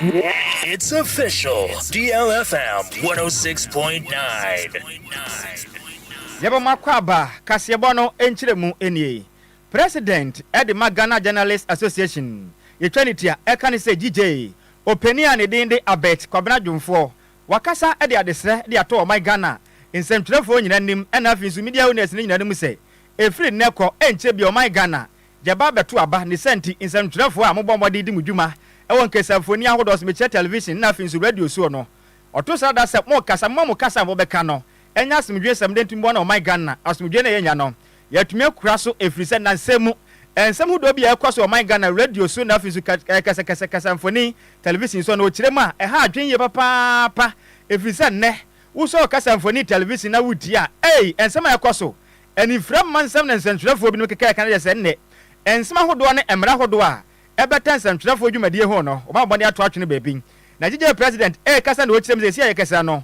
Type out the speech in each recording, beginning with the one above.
It's official. DLFM 106.9. Yɛbɛma akwaaba kaseɛbɔ no nkyerɛmu nie. President de ma Ghana Journalists Association yɛtwa ne tia ɛka ne sɛ GJ ɔpanin a ne din de Abert Kwabena Dwomfoɔ wakasa de adesrɛ de ato ɔman Ghana nsɛmtwerɛfoɔ nyina anim ɛna afei nso media owners no nyina anim sɛ ɛfiri nnɛ kɔ ɛnkyɛ biara ɔman Ghana gyɛba abɛto aba ne saa nti nsɛmtwerɛfoɔ a mobɔ mmɔden di mo dwuma wɔ nkasamfonin ahodoɔ so mekyerɛ television ɛna afei nso radio soɔ no ɔto srada sɛ mo kasa momma mo kasa a mobɛka no ɛnyɛ asomdwee sɛm dɛn nti mmoa na ɔman Ghana asomdwee na yɛnya no Yɛatumi akura so ɛfiri sɛ nnansa mu, nsɛm hodoɔ bi a ɛrekɔ so wɔ ɔman Ghana, radio so na afei nso kɛsɛkɛsɛ kasamfoni, television so no, wɔkyerɛ mu a ɛha adwene yie papaapa ɛfiri sɛ nnɛ, wosɔ kasamfoni, television na wotie a, ei, nsɛm a ɛrekɔ so, anifira mma nsɛm na nsɛntwerɛfoɔ binom keka ɛka no kyerɛ sɛ ɛnnɛ, nsɛm ahodoɔ ne mmara ahodoɔ a ɛbata nsɛntwerɛfoɔ dwumadie ho no, wɔbɛbɔ mmɔden ato atwene baabi. Nagyegeɛ President rekasa na ɔrekyerɛ mu sɛ seesei a yɛkasa no,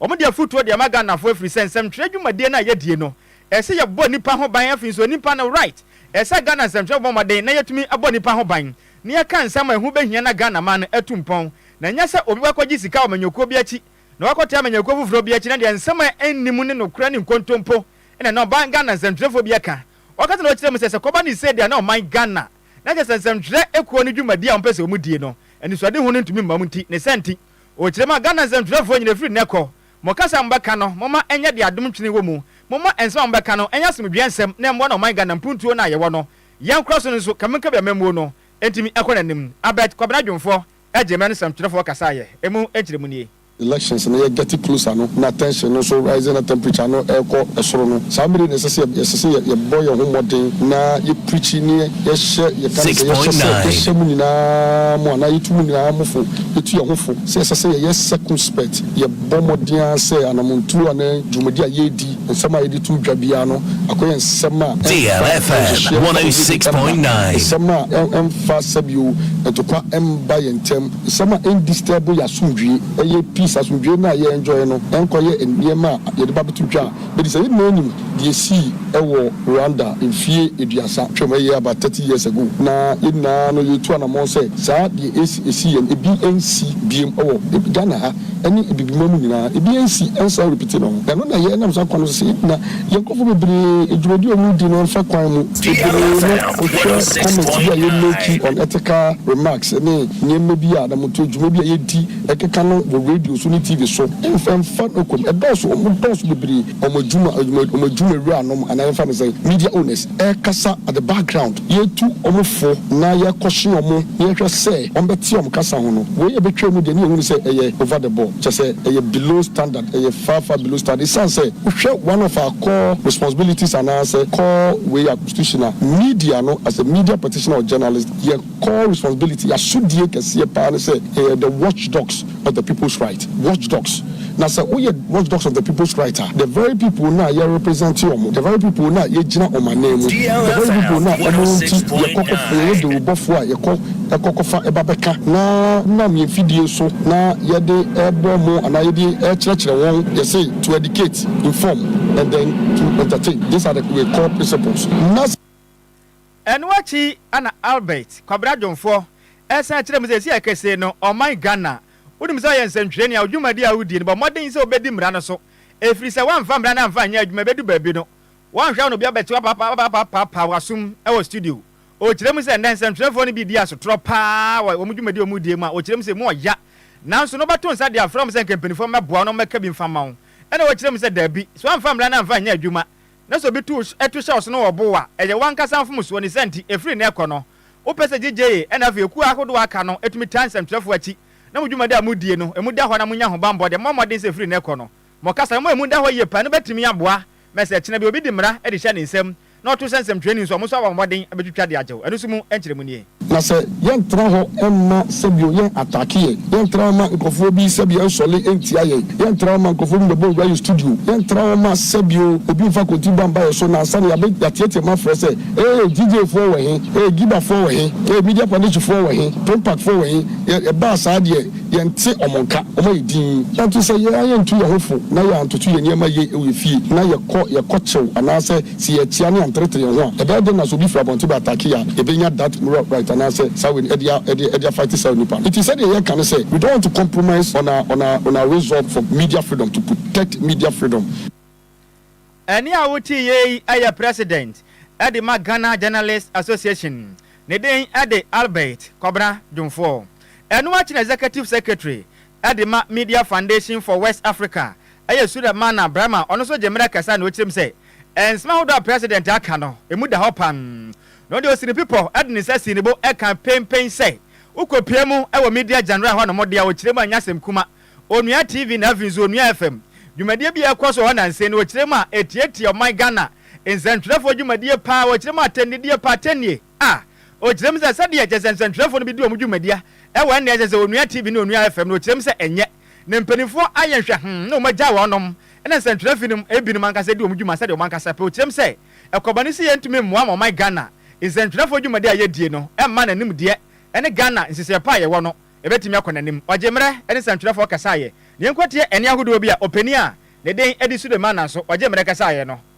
Wɔn de afutuo de ama Ghana foɔ ɛfiri sɛ nsɛmtwerɛ dwumadie no a yɛdie no ɛsɛ sɛ yɛbɔ nnipa ho ban afei nso nnipa no right ɛsɛ sɛ Ghana nsɛmtwerɛfoɔ bɔ mmɔden na yɛtumi bɔ nnipa ho ban na yɛka nsɛm a ɛho bɛhia na Ghana man no atu mpɔn na ɛnyɛ sɛ obi wakɔgye sika wɔ amanyɔkuo bi akyi na wakɔtaa amanyɔkuo foforɔ bi akyi na deɛ nsɛm a ɛnni mu ne nokorɛ ne nkontompo ɛna na ɔbaa Ghana nsɛmtwerɛfoɔ bi ɛka ɔkasa na ɔkyerɛ mu sɛ sɛ kɔba ne sei deɛ na ɔman Ghana na kyerɛ sɛ nsɛmtwerɛ kuo no dwumadie a wɔpɛ sɛ wɔdie no anisoadehu no ntumi mma mu nti ne saa nti Wɔ kyerɛ mu a, Ghana nsɛntwerɛfoɔ nyina firi nnɛ kɔ, mo kasa a mobɛka no, momma ɛnyɛ deɛ adom ntwene wɔ mu. Momma nsɛm a mobɛka no nyɛ asomdwoeɛ nsɛm na ɛmmoa na ɔman Ghana mpuntuo no a yɛwɔ no, yɛnkora so no nso, kame nkame amammuo no ntumi nkɔ n'anim. Abed Kwabena Dwomfoɔ gyee mmara no nsɛmtwerɛfoɔ kasaeɛ ɛmu nkyerɛmu nie. Elections no yɛ getting closer no na tension no nso rising na temperature no rekɔ soro no, saa mmere yi na ɛsɛ sɛ yɛsɛ sɛ yɛbɔ yɛn ho mmɔden na yɛ. Preaching ne yɛhyɛ yɛka no sɛ yɛhyɛ sɛ yɛhyɛ mo nyinaa mo anaa yɛtu mo nyinaa mo fo yɛtu yɛn ho fo sɛ ɛsɛ sɛ yɛyɛ circumspect yɛbɔ mmɔden ara sɛ anamontuo anaa dwumadi a yɛredi nsɛm a yɛde to dwa biara no akɔyɛ nsɛm a ɛmfa nhyehyeɛ mma obi mma nsɛm a ɛmfa sɛbio ntokwa mma yɛn ntam nsɛm a ɛn disturb yɛn asomdwoe ɛyɛ peace asomdwoe no a yɛ enjoy no ɛnkɔyɛ nneɛma a yɛde ba bɛto dwa a Mede saa email no de esii wɔ Rwanda mfie aduasa twam, ɛyɛ about thirty years ago, na yɛn nyinaa no yɛretu anamɔn sɛ saa deɛ ɛsi ɛsi yɛn no bi nsi biom wɔ Ghana ha ne Abibiman mu nyinaa, ebi nsi nsan repeat no ho. Ɛno na yɛnam saa kwan no so sɛ yɛgyina yɛn nkorɔfoɔ bebree dwumadie a wɔredi no mfa kwan mu. Bebree no wohwɛ comments bi a yɛ make on ethical remarks ne nneɛma bi a na moto dwuma bi a yɛdi, Ɛkeka no wɔ radio so ne TV so, ɛmfa mfa nokom, ɛdɔɔso, wɔn dɔɔso bebree, wɔn adwuma, wɔn adwumawura nom, anaa yɛmfa no sɛn, media owners, ɛkasa at the background, yɛtu wɔn fo na yɛkɔhye wɔn na yɛhwɛ sɛ wɔn bɛte wɔn kasa ho no, wei a ɛbɛtwam no deɛ ne yɛhu ne sɛ ɛyɛ over the ball, kyerɛ sɛ ɛyɛ below standard, ɛyɛ far far below standard, ɛsiane sɛ wohwɛ one of our core responsibilities anaa sɛ core wei a constitution a media no as a media practitioner or journalist yɛ. Core responsibility, yɛ asodie kɛseɛ paa ne sɛ yɛyɛ the watchdogs of the people's right, watchdogs, na sɛ woyɛ watchdogs of the people's right a, the very people no a yɛ represent wɔn, the very people no a yɛgyina wɔn anan mu, the very people no a wɔn nti yɛkɔ kɔ, yɛyɛ dawurubɔfoɔ a yɛkɔ kɔ kɔfa ba bɛka na nam yɛn mfidie so na yɛde bɔ wɔn anaa yɛde kyerɛkyerɛ wɔn, yɛse to educate, inform and then to entertain, these are the core principles. Na. Ɛno akyi na Albert Kwabena Dwomfoɔ ɛsan kyerɛɛ mu sɛ seesei kesee no ɔman Ghana wonim sɛ ɔyɛ nsɛntwerɛni a wo dwumadi a wodie no bɔ mmɔden sɛ wobɛdi mmara no so ɛfiri sɛ woamfa mmara no amfa anyɛ adwuma ɛbɛdu baabi no woanhwɛ a na obi abɛte wo apapapapaapa wo asom wɔ studio. Ɔkyerɛ mu sɛ nnɛ nsɛntwerɛfoɔ no bi di asotorɔ pa ara wɔ wɔn dwumadi a wɔdie mu a ɔkyerɛ mu sɛ ɛmu ɔya nanso na wobɛto nsa de afrɛ wɔn sɛ nka mpanimfoɔ mmɛboa wo na wɔmmɛka bi mfa mma wo ɛna wɔkyerɛ mu sɛ daabi sɛ woamfa mmara no amfa anyɛ adwuma Na sɛ obi tu tu hyɛ wo so na ɔbo wo a, ɛyɛ w'ankasa mfomsoɔ. Ne saa nti, ɛfiri nnɛ rekɔ no, wopɛ sɛ gyegyeeye, ɛnna afei akuo ahodoɔ a aka no tumi taa nsɛmtwerɛfoɔ akyi, na mo dwumadi a modie no, emu da hɔ na monya ahobammɔ de, mommɔ mmɔden sɛ ɛfiri nnɛ rekɔ no, mo kasa no, momma emu nda hɔ yie paa. Ɛno bɛtumi aboa ma sɛ ɛkyena bi obi de mmara de hyɛ ne nsam na ɔto hyɛ nsɛmtwerɛni so a, mo nso abɔ mmɔden bɛtwitwa de agye wo. Ɛno nso mu nkyerɛmu nie. Na sɛ yɛn tra hɔ mma sɛbio yɛn atake yɛn, yɛn tra hɔ ma nkorɔfoɔ bi sɛbio nsɔle ntia yɛn, yɛn tra hɔ ma nkorɔfoɔ bi mbɛbɔ nwura yɛn studio, yɛn tra hɔ ma sɛbio obi nfa kontibɔ anba yɛn so na ansa na yɛabɛ yɛateatea mu afrɛ sɛ ee DJ foɔ wɔ he, ee Giba foɔ wɔ he, ee Media Foundation foɔ wɔ he, Pimpak foɔ wɔ he, yɛ ɛbaa saa deɛ yɛn nte wɔn nka, wɔn ayɛ dinn. Nanto sɛ yɛn a yɛn ntu yɛn ho fo na yɛn antoto yɛn nneɛma yie wɔ yɛn fie na yɛkɔ yɛkɔ kyew anaasɛ Sɛ yɛteɛ ne yɛnteretere yɛn ho a, ɛbɛyɛ dɛn na sɛ obi firi abɔnten ba atake a, yɛbɛnya that moral right anaasɛ saa wei no de a de de afight saa onipa no? Nti sɛdeɛ yɛka ne sɛ, we don't want to compromise on our on our on our resolve for media freedom to protect media freedom. Ɛnne a wote yɛ yi yɛ President de ma Ghana Journalists Association, ne den de Albert Kwabena Dwomfoɔ. Ɛno akyi na Executive Secretary de ma Media Foundation for West Africa yɛ Sulemana Brahma, ɔno nso gye mmerɛ kasa na ɔkyerɛ mu sɛ, Nsɛm ahodoɔ a President aka no, ɛmu da hɔ pann. Na ɔde Osiripipɔ de ne nsa sii ne bo kaa penpen sɛ, Wokɔpue mu wɔ Media General hɔnom deɛ a ɔkyerɛ mu a ɛnyɛ asɛm kuma. Onua TV na afei nso Onua FM dwumadie bi a ɛrekɔ so wɔ hɔ nansa yi no ɔkyerɛ mu a ɛtiatia ɔman Ghana nsɛntwerɛfoɔ dwumadie pa ara, ɔkyerɛ mu atɛnnidie pa, atɛnnie. a, ɔkyerɛ mu sɛ sɛdeɛ kyerɛ sɛ nsɛntwerɛfoɔ no bi di wɔn dwumadie a, ɛwɔ ɛnna a ɛsɛ sɛ wɔnua TV ne wɔnua FM no, ɔkyerɛ mu sɛ ɛnyɛ. Na mpanimfoɔ ayɛ nhwɛhoo na wɔagyae wɔnom, ɛnna nsɛntwerɛfoɔ no mu binom ankasa di wɔn dwuma sɛdeɛ wɔn ankasa pɛ, ɔkyerɛ mu sɛ ɛkɔba no sɛ yɛntumi mmoa ma ɔman Ghana nsɛntwerɛfoɔ dwumadie a yɛdie no mma n'animdeɛ ne Ghana nhyehyɛeɛ pa a yɛwɔ no bɛtumi akɔ n'anim. Ɔgye mmerɛ ne nsɛntwerɛfoɔ kasaeɛ. Yɛnkɔtie ɛnne ahodoɔ bi a ɔpanin a ne den de Sulemana so ɔgye mmerɛ kasaeɛ no.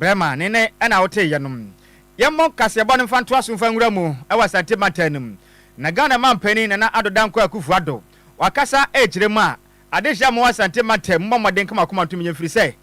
Brɛma ne nne na wotee yɛnom. Yɛmmɔ nkaseɛbɔ no mfa ntoa so mfa nwura mu wɔ Asante mantam no mu. Na Ghana manpanin Nana Addo Dankwa Akuffo Addo wakasa ɛrekyerɛ mu a, adehye a mowɔ Asante mantam mommɔ mmɔden nka mo akoma ntom yɛn ɛfirisɛ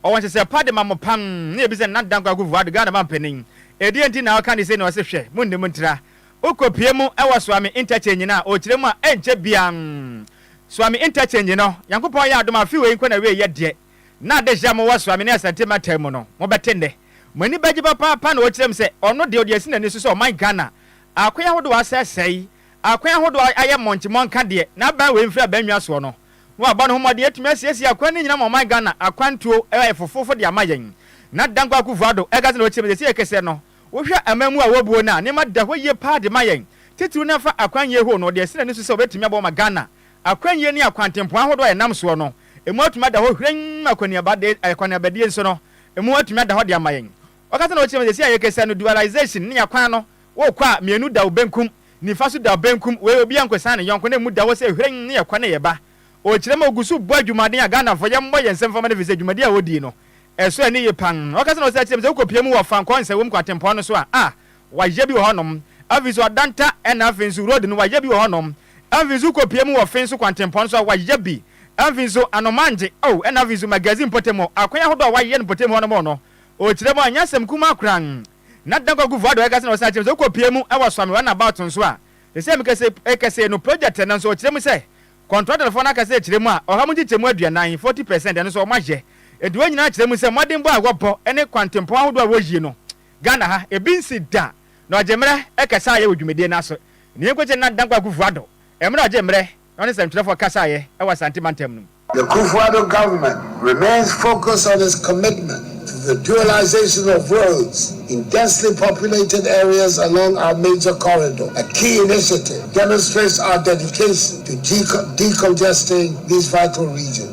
ɔwɔ nhyehyɛɛ pa dema mo pam ne yɛbisa Nana Addo Dankwa Akuffo Addo Ghana manpanin ɛdeɛn nti na ɔka ne sei na ɔse hwɛ monnim ntra wokɔpue mu wɔ Suame interchange no a ɔkyerɛ mu a ɛnkyɛ biaa Suame interchange no Nyankopɔn yɛ adom a afe wei nko na ɛwieɛ deɛ na adehye a mowɔ Suame ne Asante mantam mu no, mobɛte nnɛ. Mo ani bɛgye papaapa na wɔkyerɛ mu sɛ, ɔno deɛ ɔde asi n'ani so sɛ ɔman Ghana a akwan ahodoɔ asɛesɛe, a akwan ahodoɔ ayɛ mmɔnkye mmɔnka deɛ n'aban wei mfiri aban nnwa soɔ no, na wabɔ ne ho mmɔden atumi asiesie akwan no nyinaa ma ɔman Ghana akwan tuo ayɛ fofofo de ama yɛn. Na Dankwa Akufo-Addo Edgerton ɔkyerɛ mu sɛ, sɛdeɛ yɛkɛseɛ no, wohwɛ aman mu a ɛwɔ buo no a, nneɛma da hɔ yie paa de ma yɛn, titiriw no afa akwan yie horow no, ɔde asi n'ani so sɛ ɔbɛtumi aboa ma Ghana Akwannyie ne akwantempɔn ahodoɔ a yɛnam soɔ no, emu atumi ada hɔ hwirenn ma akɔneabadie nso no, emu atumi ada hɔ de ama yɛn. Ɔkasa na ɔkyerɛ mu sɛ, seesei a yɛrekasa no, dualisation ne akwan no, worekɔ a, mmienu da wo benkum, nifa nso da wo benkum, wei obiara nkɔsiane ne yɔnko, na emu da hɔ sɛ hwirenn ne yɛkɔ ne yɛba. Ɔkyerɛ mu a ɔgu so bɔ adwumaden a Ghanafoɔ yɛmmɔ yɛn nsam mfama no ɛfiri sɛ dwumadi a ɔdi no, ɛso ani ye pa ara. Ɔkasa na ɔsan kyerɛ mu sɛ wokɔpia mu wɔ Fankɔ Nsawam kwantempɔn no so a, a, Wayɛ bi wɔ hɔ nom. Afei so Adanta ɛna afei nso road no wayɛ bi wɔ hɔ nom. Afei nso wokɔ pie mu wɔ Fenso Kwantempɔn nso a wayɛ bi. Afei nso Anomangye oh ɛna afei nso Magazine mpɔtam hɔ akwan ahodoɔ a wayɛ no mpɔtam hɔ nom no ɔkyerɛ mu a ɛnyɛ asɛm kumaa koraa. Na Dankwa Akufo Addo ɛka sɛ na ɔsan akyerɛ mu sɛ wokɔ pie mu wɔ Suame run about nso a sɛsɛɛ meka sɛ ɛkɛsɛɛ no project ɛna nso ɔkyerɛ mu sɛ contractor foɔ no aka sɛ ɛkyerɛ mu a ɔha mu nkyekyɛmu aduanan, forty percent, ɛno nso wɔayɛ. Enti wɔn nyinaa kyerɛ mu sɛ mmɔdenbɔ a wɔbɔ ne Kwantempɔn ahodoɔ a wɔyie no Ghana ha, ebi nnsi da na ɔgye mmerɛ ɛkɛsaeɛ wɔ dwumadie no ase. Neɛ nkogye Nana Dankwa Akufo-Addo mmerɛ ɔgyee mmerɛ na ɔne nsɛmtwerɛfoɔ kasaeɛ wɔ Asante mantam no mu. The Kufuor-Addo government remains focused on its commitment to the dualisation of roads in densely populated areas along our major corridor, a key initiative demonstrates our dedication to decongesting these vital regions.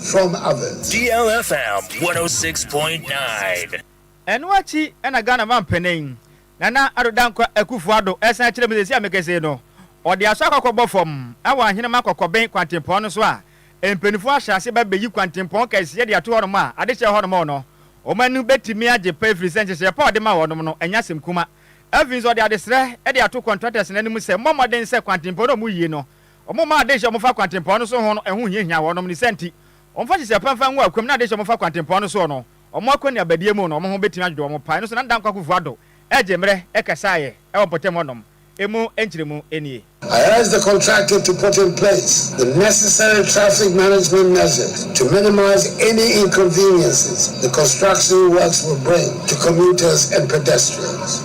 from Athens. DLFM 106.9. Ɛno akyi na Ghana mampanin, Nana Addo Dankwa Akufo-Addo san kyerɛɛ mu sɛ seesei a mekasa yi no, ɔde aso akɔ akɔbɔ fam wɔ Ahenemma Kɔkɔben kwantempɔn no so a mpanyimfo ahyɛ ase reba abɛyi kwantempɔn kɛseɛ de ato hɔnom a ade kyɛ hɔnom no wɔn ani bɛtumi agye pa ɛfiri sɛ nhyehyɛeɛ pa a ɔde maa wɔnom no ɛnyɛ asɛm kuma. Afei nso ɔde adesrɛ de ato contractors no anim sɛ mommɔ mmɔden sɛ kwantempɔn no a wɔreyi no Wɔmmaa adehye a wɔfa kwantempɔn no so ho no ho hiahiaa wɔnom, ne saa nti, wɔmfa hyehyɛɛ ɔpɛn mfa ngu akwam na adehye a wɔfa kwantempɔn no soɔ no, wɔn akwannuabadie mu no, wɔn ho bɛtumi adwodwo wɔn pae no so na Ndanko Akuffo Addo ɛgye mmerɛ ɛkasaeɛ wɔ mpɔtam hɔnom. Emu nkyerɛmu nie. I urge the contractor to put in place the necessary traffic management measures to minimize any inconveniences the construction works will bring to commuters and pedestrians.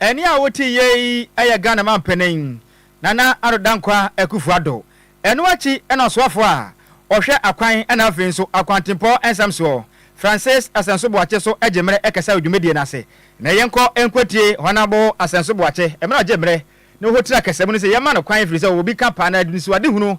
Ɛnne a wote yɛ yi yɛ Ghana manpanin, Nana Addo Dankwa Akuffo Addo. Ɛno akyi na ɔsoafo a ɔhwɛ akwan na afei nso akwantempɔ nsɛm soɔ, Francis Asɛnso Boakye so gye mmerɛ kɛsɛ wɔ dwumadie no ase. Nnɛ yɛnkɔ nkɔtie Hɔnabo Asɛnso Boakye mmerɛ a ɔgye mmerɛ na ɔhotire akɛsɛm no sɛ yɛmma no kwan ɛfiri sɛ ɔwɔ bi ka paa na anisoadehunu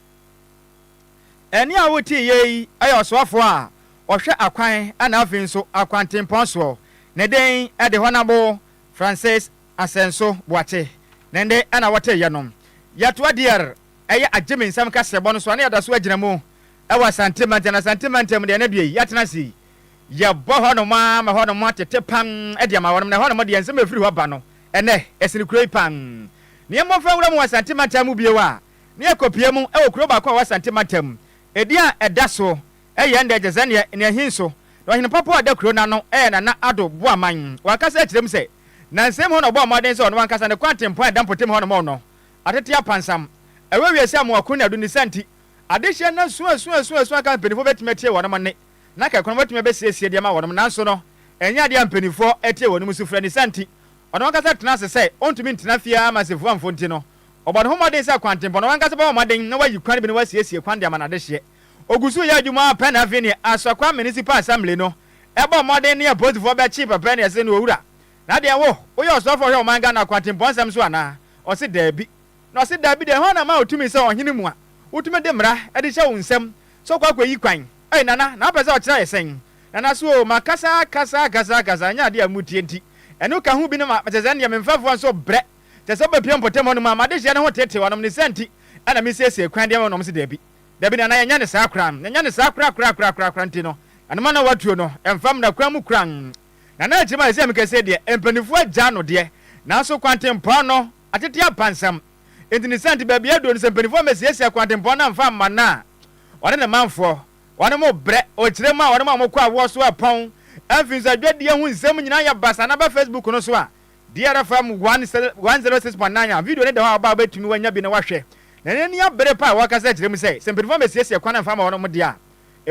Ɛnne a woteeɛ yi yɛ ɔsoafoɔ a ɔhwɛ akwan na afei nso akwantempɔn soɔ. Ne din de Hɔnabo Francis Asɛnso Boakye. Ne nne na wɔteeɛ no. Yatoa Dier yɛ agyemensɛm kaseɛbɔ no soa na yɛda so agyina mu wɔ Asante mantam. Na Asante mantam deɛ, ɛnnɛ deɛ yi, yɛatena ase yi, yɛbɔ hɔnom ara ma hɔnom atete pan de ama wɔnom. Na ɛhɔnom deɛ, nsɛm a ɛfiri hɔ ba no, ɛnnɛ, ɛsene kuro yi pan. Na yɛmmɔ mfa nwura mu wɔ Asante mantam mu bio a, ne akopia mu wɔ kurow baako a ɛwɔ Asante mantam mu. Edin a ɛda so yɛ ɛnnɛ gye sɛ nea nea ehi nso, na ɔhene papa a ɔda kurow no ano yɛ Nana Addo Boaman. Wankasa kyerɛ mu sɛ, na nsɛm mu hɔ na ɔbɔɔ mmɔden sɛ ɔno ankasa ne kwan tempɔn a ɛda mpɔtam hɔ no mɔɔ no atete apansam. Ɛwɔ wiase sɛ amoako ne adonnisa nti, adehye asuasuasuasuasu anka mpanyimfo betumi atie wɔnom nne, na anka akunanom betumi abesiesie de ama wɔnom, nanso no, ɛnyɛ ade a mpanyimfo tie wɔnom sufrɛ. Ne saa nti, ɔno ankasa tenaa ase sɛ ontumi ntena fie ara ma nsɛmfua mfo nti no, Ɔbɔ ne ho mmɔden sɛ kwantempɔn, na wankasa bɛbɔ mmɔden na wayi kwan bi na wasiesie kwan de ama n'adehyeɛ. Ɔgu so yɛ adwuma ara pɛ na afei neɛ Asɔkwa Municipal Assembly no bɔ mmɔden ne apolisifoɔ bɛkye pɛpɛ ne ɛse no Owura, na deɛn wo, woyɛ ɔsɔfoɔ a ɔhwɛ ɔman Ghana kwantempɔn nsɛm so anaa? Ɔse daabi. Na ɔse daabi deɛ hwan na ama wo tumi sɛ ɔhene mu a wotumi de mmara de hyɛ wo nsam sɛ wokɔ akɔyi kwan? Ei Nana, na wopɛ sɛ ɔkyerɛ yɛ sɛn? Nana so oo, makasa akasa akasa akasa, ɛnyɛ adeɛ a motie nti. Ɛno ka ho bi no ma, te sɛ nneɛ me mfɛfoɔ nso brɛ. Kyerɛ sɛ wobɛpia mpɔtam hɔnom a, ma adehyeɛ no ho teetee wɔnom, ne saa nti na mesiesie kwan de ama wɔnom. Wɔse, Daabi, daabi, nana, yɛnyɛ no saa koraa, yɛnyɛ no saa koraa koraa koraa koraa koraa, nti no, ɛno ma na wɔatuo no mfa mmra kwan mu koraa. Na na akyiri mu a ɛsɛ sɛ meka sei deɛ, mpaninfoɔ agyaa no deɛ, nanso kwantempɔn no atete apansam, nti ne saa nti baabiara aduro no, sɛ mpaninfoɔ ammɛsiasia kwantempɔn no amfa amma no a, ɔne ne manfoɔ, wɔnom rebrɛ, ɔkyerɛ mu a wɔnom a wɔkɔ awoɔ so repɔn, afei nso adwadie ho nsɛm nyinaa yɛ basaa na ɛba Facebook no so a, Dear FM one six one zero six point nine a video no da hɔ a ɔbaa wobɛtumi wanya bi na woahwɛ na ɛno ni abere pa a wɔkasa kyerɛ mu sɛ sɛ mpanyinfoɔ mmɛsiesie kwan mfa ma wɔn wɔn deɛ a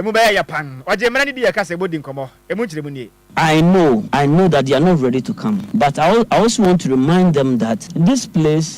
ɛmu bɛyɛ yɛ pann ɔgye mmara no di yɛ kasa ɛbɔ di nkɔmmɔ ɛmu nkyerɛmu nie. I know I know that they are not ready to come but I I also want to remind them that this place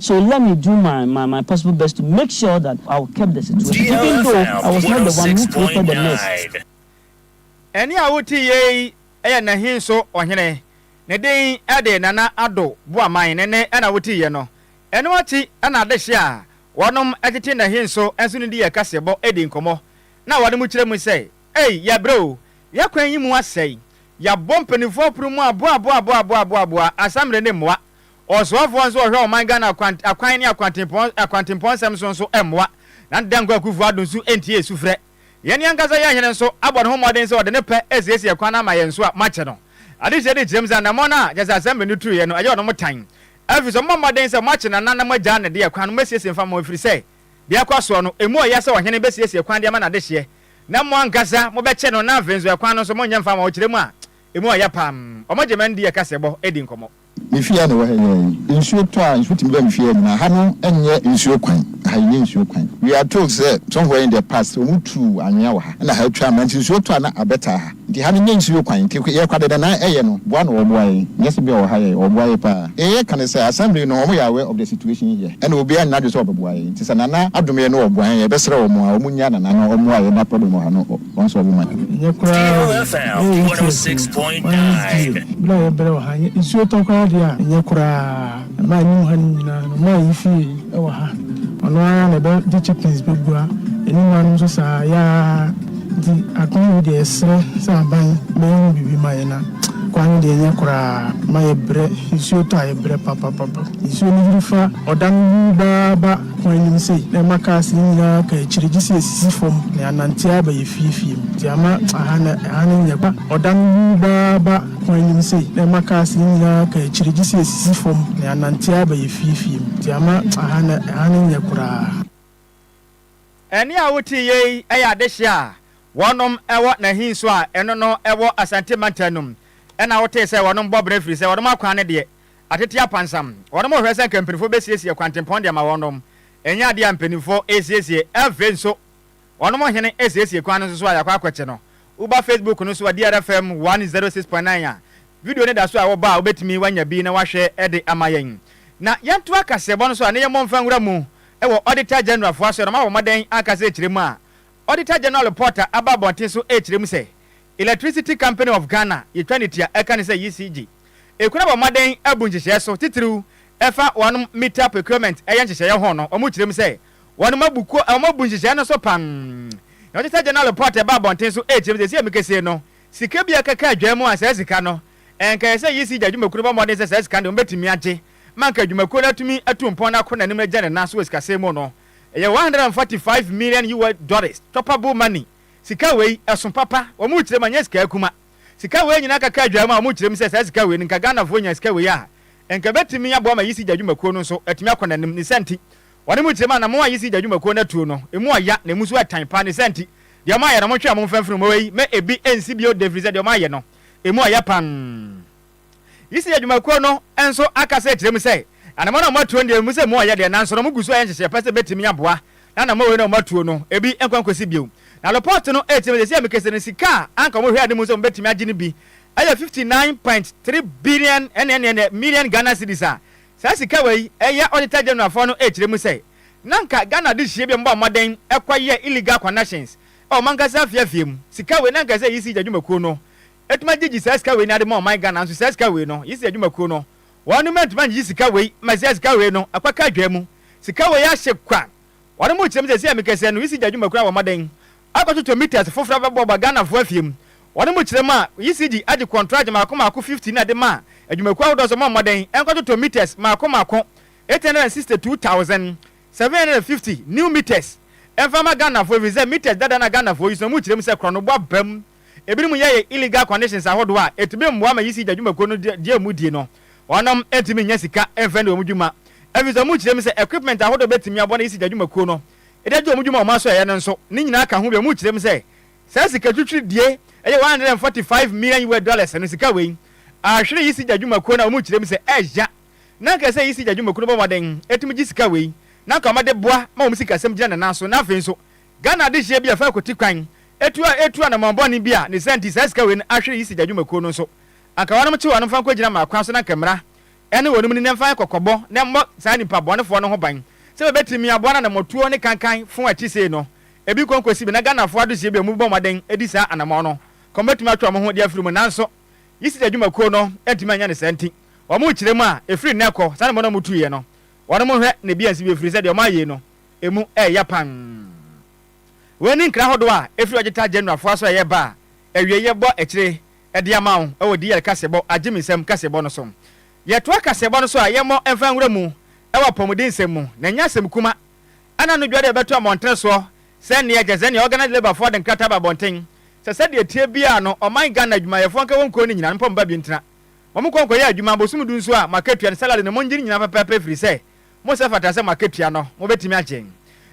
So let me do my my my possible best to make sure that I will curb the situation even though I was not the one who created the mess. Ɛnne a wote yie yi yɛ Nahinso ɔhene, ne din de Nana Addo Boaman, ne nne na wote yie no. Ɛno akyi na adehye a wɔnom tete Nahinso nso no di yɛ kaseɛbɔ di nkɔmmɔ na wɔnom kyerɛ mu sɛ, Ei, yɛabrɛ o, yɛakwan yi mu asɛe, yɛabɔ mpanimfoɔ poromu aboaboaboaboaboaboa asammerɛ ne mmoa, Ɔsoafoɔ nso ɔhwɛ ɔman Ghana akwan akwan ne akwantempɔn akwantempɔn nsɛm so nso mmoa, na Nana Dankwa Akuffo Addo nso ntie sufrɛ. Yɛn ankasa yɛn hene nso abɔ ne ho mmɔden sɛ ɔde ne pɛ asiesie kwan ama yɛn nso a moakyɛ no adehyeɛ de kyerɛ mu sɛ anammɔn a kyerɛ sɛ Assembly no turuiɛ no ɛyɛ ɔno mo tan ɛfiri sɛ mommɔ mmɔden sɛ moakye Nana na moagyaa no deɛ kwan no mɛsiesie mfa mo ɛfiri sɛ deɛ ɛkɔ soɔ no ɛmu ɔya sɛ ɔhene bɛsiesie kwan de ama no adehyeɛ na mo ankasa mobɛkyɛ no na afei nso ɛkwan no nso monyɛ mfa ma ɔkyerɛ mu a ɛmu ɔya paa. Wɔn gye mma ndi ɛkaseɛbɔ di nkɔmmɔ. Me fie a na ɛwɔ ha nyinaa yi, nsuo tɔ a, nsuo tumi ba me fie ha nyinaa. Ha no nyɛ nsuo kwan. Ha nyɛ nsuo kwan. We are told sɛ somewhere in the past, wɔn tu anwea wɔ ha na ha twa ama nti nsuo tɔ a na abɛtaa ha. Nti ha no nyɛ nsuo kwan. Nti yɛ kwa dɛdɛ na ɛyɛ no, boa na wɔboa yɛn. Nyɛ sɛ bi a wɔ ha yɛ, wɔboa yɛ paa. Deɛ yɛ ka ne sɛ assembly no wɔn yɛ aware of the situation here ɛna obiara nyɛ n'adwene sɛ ɔbɛboa yɛn. Nti sɛ Nana adom yɛn na ɔboa yɛn, yɛbɛsrɛ wɔn a wɔn nya Nana na wɔmmoa yɛn na problem wɔ ha no. Wɔn so ɔbɛma no. Ɛnyɛ koraa o, ɛyɛ nteaseɛnam. Wɔn die, bere a yɛbrɛ wɔ ha, ɛnyɛ nsuo tɔ koraa deɛ a, ɛnyɛ koraa. Mmaa a ɛnim ha no nyinaa no, mmaa a yefie wɔ ha, ɔno ara na ɛbɛgye chickens bɛbua, ɛne mmaa nom nso saa ara, yaa. Nti akwan wei deɛ yɛsrɛ sɛ aban bɛyɛ ho biribi ma yɛn na kwan no deɛ ɛnyɛ koraa, mma yɛbrɛ, nsuo tɔ a yɛbrɛ papapapa, nsuo no yiri fa ɔda no wu baa ba. Hwan nim se na ɛma cars no nyinaa ka akyiri gye se esisi fam na yɛanante ara aba yɛ fie fie mu. Nti ama aha na ɛha no nyɛ kwa. Ɔda no wuu baa ba. Hwan nim se na ɛma cars no nyinaa ka akyiri gye se esisi fam na yɛanante ara aba yɛ fie fie mu. Nti ama aha na ɛha no nyɛ koraa. Ɛnne a wote yɛ yi yɛ adehye a wɔnom wɔ Nahin so a ɛno no wɔ Asante Mantam no mu. Ɛna wotee sɛ wɔnom bɔ bra firisɛ wɔnom akwan no deɛ Atsetse apansam, hɔnnom rohwɛ sɛ nka mpanyimfo besiesie kwantempɔn de ama hɔnnom. Nnyɛ adze a mpanyimfo resiesie. Afei so, hɔnnom hen esiesie kwan no so a yɛakɔ akɔtse no. Woba Facebook no so a, DRFM one zero six point nine a, video no da so a wɔba a wobetumi woanya bi na wɔahwɛ de ama yɛn. Na yɛntoa kaseɛbɔ no so a, ne yɛmmɔ mfa nwura mu wɔ Auditor General fo asoɛr no, ɔma wɔbɔ mmɔdɛn ankasa rekyerɛ mu a, Auditor General report a aba abɔnten so rekyerɛ mu sɛ, Electricity Company of Ghana yɛtwa no tia ɛka ne sɛ ECG ɛkura bɔ mmɔden abu nhyehyɛɛ so titiriw ɛfa wɔnom meter procurement ɛyɛ nhyehyɛeɛ ho no wɔn kyerɛm sɛ wɔnom abu kuo wɔn abu nhyehyɛɛ no so pam nea Auditor General report ɛba abɔnten so ɛkyerɛm sɛ ɛsi amikɛsie no sika bi ɛkɛka adwaa mu a saa sika no ɛnka ɛyɛ sɛ ECG adwumakuo no bɔ mmɔden sɛ saa sika no deɛ wɔbɛtumi agye ma anka adwumakuo no atumi atu mpɔn no akɔ nanim agya ne nan so wɔ sikasɛm mu no ɛyɛ one hundred and forty five million US dollars tɔpable money. Sika wei ɛso papa, wɔn rekyerɛ mu anyɛ sika akuma. Sika wei nyinaa kaka adwaa mu a wɔn rekyerɛ mu sɛ saa sika wei no nka Ghanafoɔ nya sika wei a nka ɛbɛtumi aboa ma Yisi Gya dwumakuo no nso atumi akɔ n'anim ne saa nti wɔn rekyerɛ mu anammɔn a Yisi Gya dwumakuo no atuo no emu ɔya na emu nso ɛtan paa ne saa nti deɛ wɔn ayɛ no monhwɛ a momfa mfiri mu wei mɛ ebi ɛnsi bio da ɛfirisɛ deɛ wɔn ayɛ no emu ɔya paa. Yisi adwumakuo no nso akasa akyerɛ mu sɛ, na nɔma no a wɔatuo no deɛ ɛwɔ mu sɛ emu ayɛ den nanso wɔgu so ayɛ nhyehyɛeɛ pa sɛ ɛbɛtumi aboa na nɔma wei no a wɔatuo no ebi nkɔ nkɔsi bio. Na lɔpɔt no ɛkyerɛ mu sɛ seesei a mekasa no sika a anka wɔhwɛ anim sɛ wɔbɛtumi agye no bi yɛ fifty nine point three billion ɛnneɛnneɛnneɛ million Ghana cedis a saa sika wei yɛ Auditor General foɔ no ɛkyerɛ mu sɛ na anka Ghana adehyeɛ binom bɔɔ mmɔden kɔyɛɛ illegal connections wɔ wɔn ankasa afie afie mu. Sika wei na anka ɛsɛ sɛ Yisi adwumakuo no Ɛtumi agye gye saa sika wei na ɛde ma ɔman Ghana nso saa sika wei no yisi adwumakuo no wɔn nom ɛntumi angyegye sika wei ma saa sika wei no ɛkɔ ka adwaa mu sika wei ahye kwa wɔn nom kyerɛ mu sɛsɛ a mikɛsɛ no yisi gya adwumakuo no abɔ mmɔden akɔ toto meters foforɔ abɛbɔ ba Ghana foɔ afie mu wɔn nom kyerɛ mu a yisi gye agye kɔntragye maako maako 50 na ɛde ma adwumakuo ahodoɔ nso mɔ mmɔden ɛnkɔ toto meters maako maako 862750 new meters ɛmfa ma Ghana foɔ ɛfiri sɛ meters dada na Ghana foɔ yisi no wɔn nom kyerɛ mu sɛ korɔno bɔ abam ebinom yɛɛ illegal conditions ahodoɔ a ɛtumi mmoa ma yisi gya dwumakuo no deɛ wɔn di no, wɔnom ntumi nnya sika mfa ndi wɔn dwuma ɛfiri sɛ wɔn kyerɛ mu sɛ equipment ahodoɔ bɛtumi aboa na yisi gya dwumakuo no de agye wɔn dwuma a wɔn asɔ ɛyɛ no nso ne nyinaa ka ho bi wɔn kyerɛ mu sɛ saa sika twitwiri die ɛyɛ one hundred and forty five million US dollars no sika wei ahwere yisi gya dwumakuo no a wɔn kyerɛ mu sɛ ɛɛgya na anka sɛ yisi gya dwumakuo no bɔ mmɔden ɛtumi gye sika wei na anka wɔn de boa ma wɔn sikasɛm gyina ne nan so na afei nso Ghana adehyeɛ bi a ɛfa kwati kwan atuo a ɛretu anammɔn bɔne bi a ne saa nti saa sika wei no ahwere yi sigya dwumakuo no nso. Anka wɔnom nkye wɔnom mfa nkɔgyina mmaa kwan so na anka mmara ne wɔnom ni na ɛmfa nyɛ kɔkɔbɔ na ɛmmɔ saa nnipa bɔnefoɔ no ho ban sɛ bɛbɛtumi aboa no anammɔtuo ne kankan fo a ɛte sei no bi kɔ nkɔsi bi na Ghanafoɔ adehyeɛ bi a wɔbɔ mmɔden di saa anammɔn no kɔ bɛtumi atwe wɔn ho de afiri mu nanso yi sigya dwumakuo no antumi anyɛ ne saa nti wɔn rekyerɛ mu a ɛfiri nnɛ kɔ saa anammɔn no a wɔtuiɛ no wɔnom nhwɛ na bi ansi bio ɛfiri sɛ deɛ wɔayɛ yi no emu yɛ ya pann. Wei ne nkra ahodoɔ a ɛfiri Ɔgyeta General foɔ asɔɛeɛ ba a awieeɛ bɔ akyire de ama wo wɔ DL kaseɛbɔ, agyeminsɛm, kaseɛbɔ no so. Yɛtoa kaseɛbɔ no so a yɛmmɔ mfa nwura mu wɔ apɔmuden nsɛm mu, na ɛnyɛ asɛm kuma. Ɛna no dwa dɛ yɛbɛto amɔntene soɔ sɛ neɛ Jazania Organized Labour foɔ de nkrataa aba abɔnten sɛ sɛdeɛ ɛteɛ biara no ɔman Ghana adwumayɛfoɔ nka wɔ nkuo no nyinaa no mpa mu ba bio ntena wɔn nkɔ nkɔyɛ adwuma bosome du nso a mo akatua no salary no mongye no nyinaa pɛpɛɛpɛ ɛfirisɛ mo nsa fata sɛ mo akatua no, mobɛtumi agye.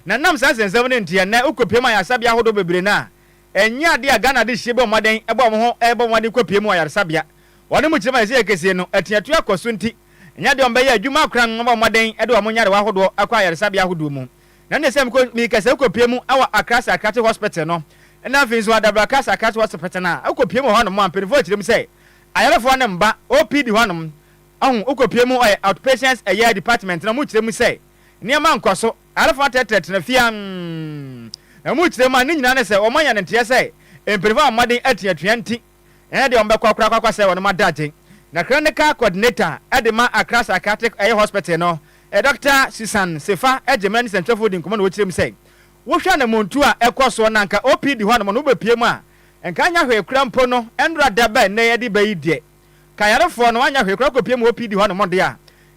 Na ɛnam saa nsɛnsɛm no nti, ɛnnɛ wokɔpue mu ayaresabea ahodoɔ bebree no a, ɛnyɛ adeɛ a Ghana Adehyeɛ bɔ mmɔden bɔ wɔn ho rebɔ mmɔden kɔpue mu wɔ ayaresabea. Wɔn mu kyerɛ mu a seesei ɛkɛseɛ no, atuatua kɔ so nti, ɛnyɛ adeɛ a wɔbɛyɛ adwuma akoran abɔ mmɔden de wɔn nyarewa ahodoɔ akɔ ayaresabea ahodoɔ mu. Na ɛnneɛ sɛ meka sɛ wokɔpue mu wɔ Accra Psychiatric Hospital no, na afei nso Adabraka Psychiatric Hospital no a, wokɔpue mu wɔ hɔnom a, mpanimfoɔ kyerɛ mu sɛ ayarefoɔ no mma OPD hɔnom Ahu wokopue mu ɔyɛ outpatients ɛyɛ department na ɔmo kyerɛ mu sɛ nneɛma nkɔ so, ayarefo atrɛtrɛ tena fie ann na ɔmo kyerɛ mu a ne nyinaa ne sɛ ɔmo anya ne nteɛ sɛ mpanyinfo ama mmɔden ati atua nti ɛnyɛ deɛ ɔmo bɛkɔ koraa akɔ sɛe wɔnom adagye. Na clinical coordinator ɛde ma Accra psychiatric ɛyɛ hospital no Doctor Susan Sefa ɛgye mmra nsɛntwerɛfoɔ di nkɔmɔ na ɔkyerɛ mu sɛ wohwɛ anamontuo a ɛkɔ soɔ na nka OPD hɔnom no wobɛpue mu a nka anya hwee koraa mpo no ɛnnora da bɛn nnɛ yɛde bɛyi deɛ Ka ayarefoɔ no anyɛ hwee koraa kɔpue mu wɔ PD hɔ nom deɛ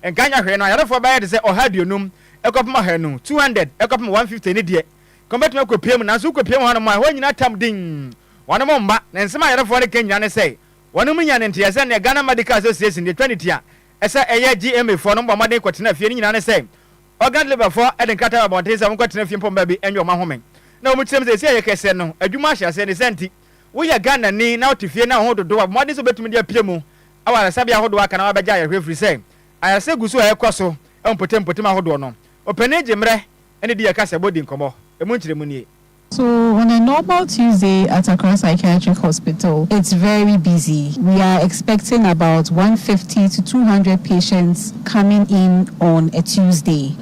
a, nka anyɛ hwee no ayarefoɔ bɛyɛ te sɛ ɔha aduonum kɔpem ɔhanu, 200 kɔpem 150 no deɛ, nka wɔbɛtumi akɔpue mu, nanso wokɔpue mu hɔ nom a, ɛhɔ nyina tam dinn, wɔnom mma, na nsɛm a ayarefoɔ no ka nyina ne sɛ, wɔnom nya ne nteɛ sɛ neɛ Ghana Medical Association deɛ ɛtwa ne ti a ɛsɛ ɛyɛ GMA foɔ nom bɔ mmɔden kɔtena fie no nyina ne sɛ, organ deliver foɔ de nkrataa ba abɔnten sɛ wɔnkɔtena fie mpo mma bi nyɛ wɔn ahome, na wɔkyerɛ mu sɛ seesei ɛyɛ kɛseɛ no, adwuma ahyɛ aseɛ, ne saa nti. Woyɛ Ghanani na wote fie na wo ho dodow a, bɔ mmɔden sɛ wubetumi de apue mu wɔ ayaresabea ahodoɔ a aka na woabɛgye ayarehwɛ ɛfiri sɛ ayaresa gu so a ɛrekɔ so wɔ mpɔtampɔtam ahodoɔ no. Ɔpanin gye mmerɛ ne di yɛ kasa bɔ di nkɔmmɔ. Emu nkyerɛmu nie. So on a normal Tuesday at Accra Psychiatric Hospital it's very busy, we are expecting about one fifty to two hundred patients coming in on a Tuesday.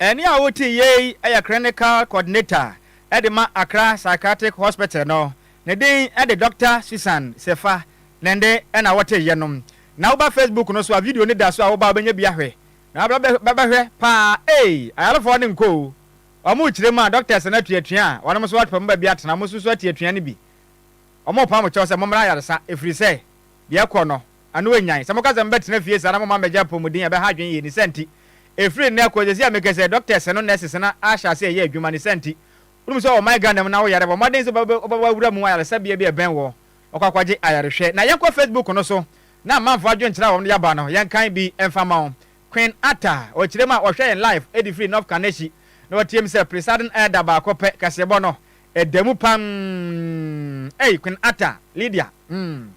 Ɛnne a wotiiɛ yi yɛ Clinical Coordinator de ma Accra Psychiatric Hospital no, ne din de Dɔkta Susan Sefa Nende na wɔteeɛ no. Na woba Facebook no so a video no da so a woba a wobɛnya bi ahwɛ na wabɛhwɛ paa ei ayarefoɔ no nkɔ o wɔn rekyerɛ mu a doctors no atuatua a wɔnom nso wɔpɛ wɔn baabi atena wɔn nso so atuatua no bi wɔn repam kyɛw sɛ mommra ayaresa ɛfiri sɛ Deɛ ɛkɔ no, ano anyan. Sɛ moka sɛ mobɛtena fie saa na momma mmɛgye apɔmuden a ɛbɛha adwene yie. Ne saa nti, ɛfiri nnɛ kɔ, ɛsɛ sɛ meka sɛ doctors no, nurses no ahyɛ aseɛ yɛ adwuma. Ne saa nti, wonim sɛ wɔ ɔman Ghana mu no, awoyare a, bɔ mmɔden sɛ wobɛba w'awura mu ayaresabea bi a ɛbɛn wo na wakɔ akɔgye ayarehwɛ. Na yɛnkɔ Facebook no so na amanfoɔ adwenkyerɛ a wɔde aba no, yɛnkan bi mfa mma wo. Queen Atta, ɔkyerɛ mu a ɔhwɛ yɛn live de firi North Kaneshie na wateam sɛ, Presiding Elder baako pɛ, kaseɛbɔ no, Ɛda mu pam ei Queen Atta, Lydia mm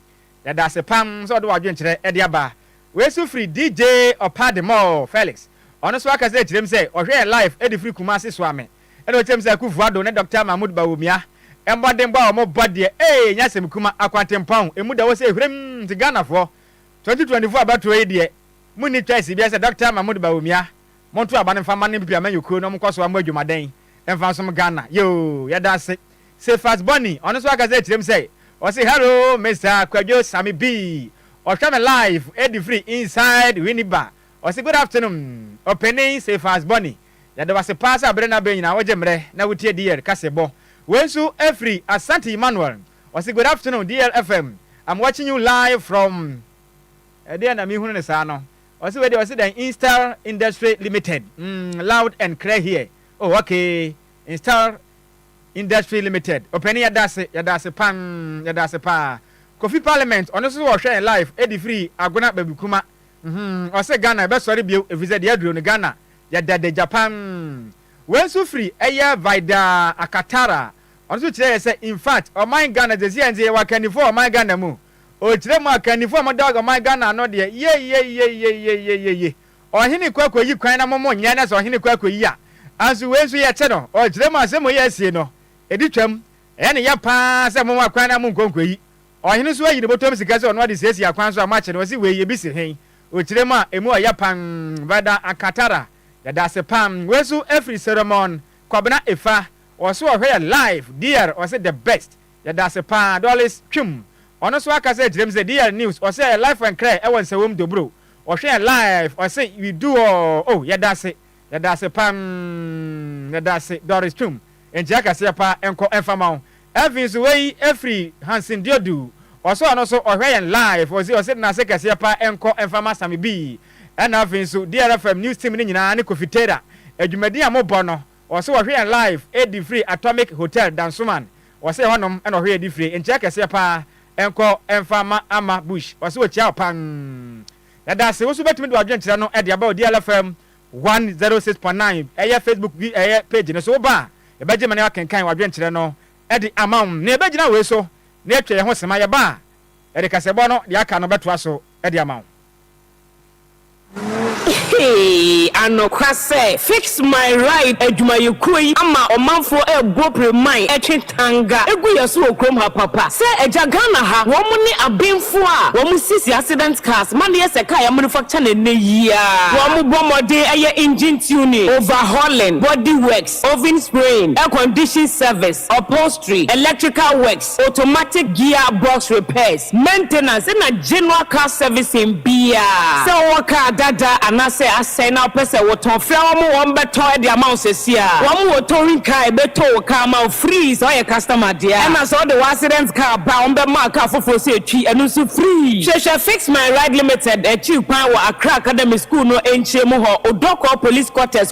yɛda ase pam sɛ wode w'adwen kyerɛ ɛde aba. Wei so firi DJ Ɔpa de mɔ oo Felix ɔno nso aka sɛ kyerɛm sɛ ɔhwɛ yɛn live ɛde firi Kumasi soa me ɛna ɔkyerɛm sɛ Akufu Addo ne Doctor Mahmood Bawumia mmɔdenbɔ a wɔn bɔ deɛ ei ɛnyɛ asɛm kuma akwantempɔn ɛmu da hɔ sɛ hwirim nti Ghanafoɔ 2024 abatoɔ yi deɛ monni choice biara sɛ Doctor Mahmood Bawumia monto aba no mfa mma no mpepeamanyɔkuo no wɔn nkɔ soa mo adwumaden Ɛmfa nsom Ghana yoo yɛda ase. Cephas Bonny ɔno nso akasa akyerɛ mu sɛ ɔse hello Mister Kwadwo Sammy Bee ɔhwɛ me live ɛde firi inside Winneba ɔse good afternoon Ɔpanin Cephas Bonny yɛda wo ase paa sɛ abere ne abere nyinaa wogye mmerɛ na wotie DL kasebɔ wei nso ɛfiri Asante Emmanuel ɔse good afternoon DL FM I'm watching you live from ɛdeɛn na mehunu no saa no Ɔse wei deɛ ɔse dɛn instar industry limited mm loud and clear here oh okay instar industry limited ɔpɛni yɛdase yɛdase pan yɛdase paa kofi parliament ɔno nso ɔhwɛ yɛn live edi firi agona babikuma mm ɔse Ghana ɛbɛsɔre bio efiri sɛ deɛ aduro no Ghana yɛda de gya pan wei nso firi ɛyɛ vida akatara ɔno nso kyerɛ yɛ sɛ infact ɔman Ghana sɛsi yɛn nse yɛwɔ akannifoɔ ɔman Ghana mu Ɔkyerɛ mu a kannifoɔ a moda ɔman Ghana ano deɛ yeieieieieieiei ɔhene kɔ akɔyi kwan na mo mo nyɛ na sɛ ɔhene kɔ akɔyi a anso wei nso yɛte no ɔkyerɛ mu a sɛ moyɛ asie no ɛdi twam ɛyɛ ne yɛ paa sɛ mo ma kwan na monkɔ nkɔyi ɔhene nso ayi ne bɔtɔm sika sɛ ɔno ade siesie akwan so a moakye no ɔse wei ɛbi si he ɔkyerɛ mu a ɛmu ɔyɛ pan Vada Akatara yɛda ase paa wei nso ɛfiri Seremon Kwabena Efa ɔse ɔhwɛ yɛ live dear ɔse the best Yɛdase paa Doris Twum. Ɔno nso aka sɛ kyerɛ mu sɛ DR news ɔse ɛyɛ life and cry ɛwɔ nsɛwom dobro ɔhwɛ yɛn live ɔse we do all oh yɛdase yɛdase pam yɛdase Doris Twum nkyia kɛseɛ paa nkɔ ɛnfa ma wo ɛfii nso wei ɛfiri Hansen Diodu ɔse ɔno nso ɔhwɛ yɛn live ɔse ɔse nase kɛseɛ paa nkɔ ɛnfa ma Sami Bii ɛna ɛfii nso DR FM news team no nyinaa ne Kofi Tera adwumadin a mo bɔ no Wɔse wɔhwe yɛn live ɛdi firi Atomic Hotel Dansoman wɔse ɛhɔ nom na wɔhwe ɛdi fire nkyerɛ kɛseɛ paa nkɔ mfa ma Ama Bush wɔse wɔkyia wo paa yɛdaase woso wobɛtumi de wadwene kyerɛ no de aba Odiela FM 106.9 ɛyɛ Facebook bi ɛyɛ page no so woba a yɛbɛgye ma na yɛakenkan wadwene kyerɛ no de ama wo na yɛbɛgyina wei so na yɛatwa yɛn ho sema yɛba a yɛde kasɛbɔ no deɛ aka no bɛtoa so de ama wo. Eeii anokwa sɛ Fix My Ride adwumayɛkuo yi ama ɔmanfoɔ rebɔ preman ɛtwe tanga ɛgu yɛ so wɔ kurom ha papa sɛ agya Ghana ha wɔn ne abenfoɔ a wɔn sisi accident cars ma no yɛ sɛ car yɛ manufacture no ɛnɛ yi aa wɔn bɔ mmɔden ɛyɛ engine tuning, overhauling, body works, oven spraying, air condition service, upholstery, electrical works. automatic gear box repairs, maintenance na general car servicing biaa. Sɛ wowɔ car dada anaasɛ asɛe na wopɛ sɛ wotɔn, frɛ wɔn ma wɔn bɛtɔ de ama wo sɛsi ara. Wɔn wɔ towing car a ɛbɛtow wo car ama wo free sɛ ɔyɛ customer dea, ɛna sɛ wode w'accident car ba a wɔbɛma wo car foforɔ sɛ ɛtwi, ɛno nso free. Hwehwɛ Fix My Ride Limited akyiri kwan wɔ Accra Academy School no nkyerɛmu hɔ, Odorkor Police Quarters,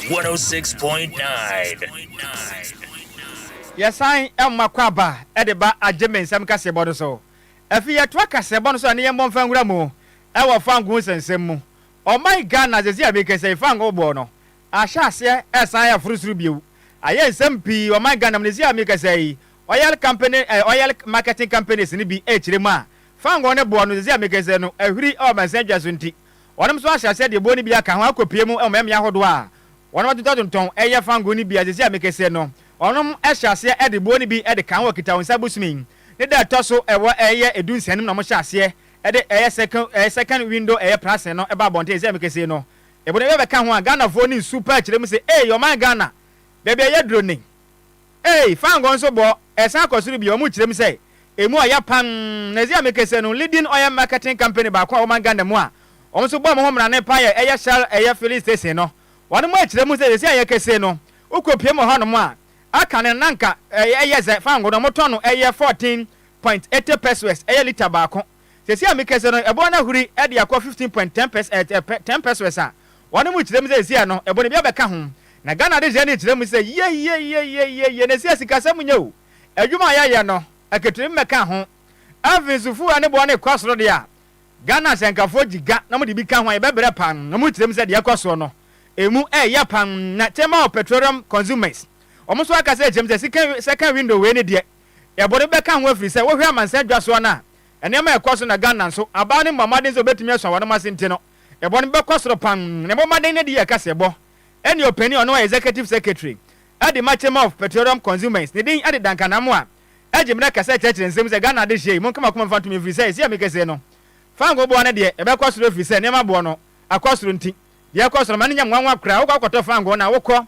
106.9. Yɛsan ma akwaaba de ba agyemensɛm kaseɛbɔ no so. Afei yɛtoa kaseɛbɔ no so a ne yɛmmɔ mfa nwura mu wɔ fangoo nsɛnsɛm mu. Ɔman Ghana sɛsi a merekasa yi fangoo boɔ no ahyɛ aseɛ resan reforo soro bio. Ayɛ nsɛm pii ɔman Ghana mu na sɛsi a merekasa yi oil company eh, oil marketing companies no bi rekyerɛ mu a fangoo ne boɔ no sɛsi a merekasa yi no ahuri wɔ amansan dwa so nti Wɔnom nso ahyɛ aseɛ de ɛboɔ no bi aka ho akɔpie mu wɔ mɛmea ahodoɔ a wɔnom atontɔtontɔn yɛ fangoo no bi a sɛsi a mekɛseɛ no wɔnom hyɛ aseɛ de boɔ no bi de ka ho wɔ kitawonsa bosome yi ne da ɛtɔ so ɛwɔ ɛyɛ ɛdu nsia no mu na wɔhyɛ aseɛ de ɛyɛ second ɛyɛ second window ɛyɛ pricing no ba abɔnten sɛsi a mekɛseɛ no ɛboɔ no bi bɛka ho a Ghanafoɔ no nsu paa kyerɛ mu sɛ eei ɔman Ghana baabi a yɛduro nen. Ei fa ngo nso bɔ ɛsan kɔ soro bio ɔmo kyerɛ mu sɛ emu ɔya pann na ɛdze a me kɛsɛ no leading oil marketing company baako a ɔman Ghana mu a ɔmo nso bɔ ɔmo ho mmra ne pan yɛ ɛyɛ shell ɛyɛ filling station no wɔn mo ɛkyerɛ mu sɛ sɛsɛ a yɛ kɛsɛ no wo kɔ piem wɔ hɔ nom a aka no na nka ɛyɛ dze fa ngo no ɔmo tɔn no ɛyɛ fourteen point eighty pesoes ɛyɛ litre baako Sɛsi a mekɛse no ɛboɔ no ahuri de akɔ fifteen point ten pɛs ɛɛt ɛpɛ ten pɛsrɛs a wɔn mo kyerɛ mu sɛ ɛsi a no ɛbo no bi abɛka ho na Ghana de hyɛne kyerɛ mu sɛ yieieieieiei na ɛsi a sika sɛm nyɛ o adwuma a yɛyɛ no ɛketeri mmɛka ho afei nso fuel ne boɔ no rekɔ soro deɛ a Ghana ahyɛnkafoɔ gyiga na wɔde bi ka ho a yɛbɛbrɛ pa wɔn mo kyerɛ mu sɛ deɛ ɛkɔ soɔ no ɛmu ɛɛyɛ pa na Chamber of Petroleum Consumers wɔn nso aka sɛ ɛkyerɛ mu sɛ sika sɛka window wei ne deɛ Yɛ bɔne bɛka ho ɛfiri sɛ wohwɛ amansan dwa soɔ no a nneɛma ɛkɔ so na Ghana nso abaa no mmɔ mmaden sɛ obɛtumi asua wɔnom ase nti no yɛ bɔne bɛkɔ soro pam na ɛbɔ mmaden no de yɛ kaseɛ bɔ ɛne ɔpanin a ɔno ɔyɛ Executive Secretary ɛde ma Chamber of Petroleum Consumers ne din ɛde Duncan Amoah ɛgye mmerɛ kɛsɛ ɛkyerɛkyerɛ nsɛm sɛ Ghana adehyeɛ yi monkama koma mfa ntom ɛfiri sɛ ɛsi ami kɛsee no Fango boɔ no deɛ ɛbɛkɔ soro ɛfiri sɛ nneɛma boɔ no akɔ soro nti deɛ ɛkɔ soro ma no nyɛ nwanwa koraa wokɔ akɔtɔ fango no a wokɔ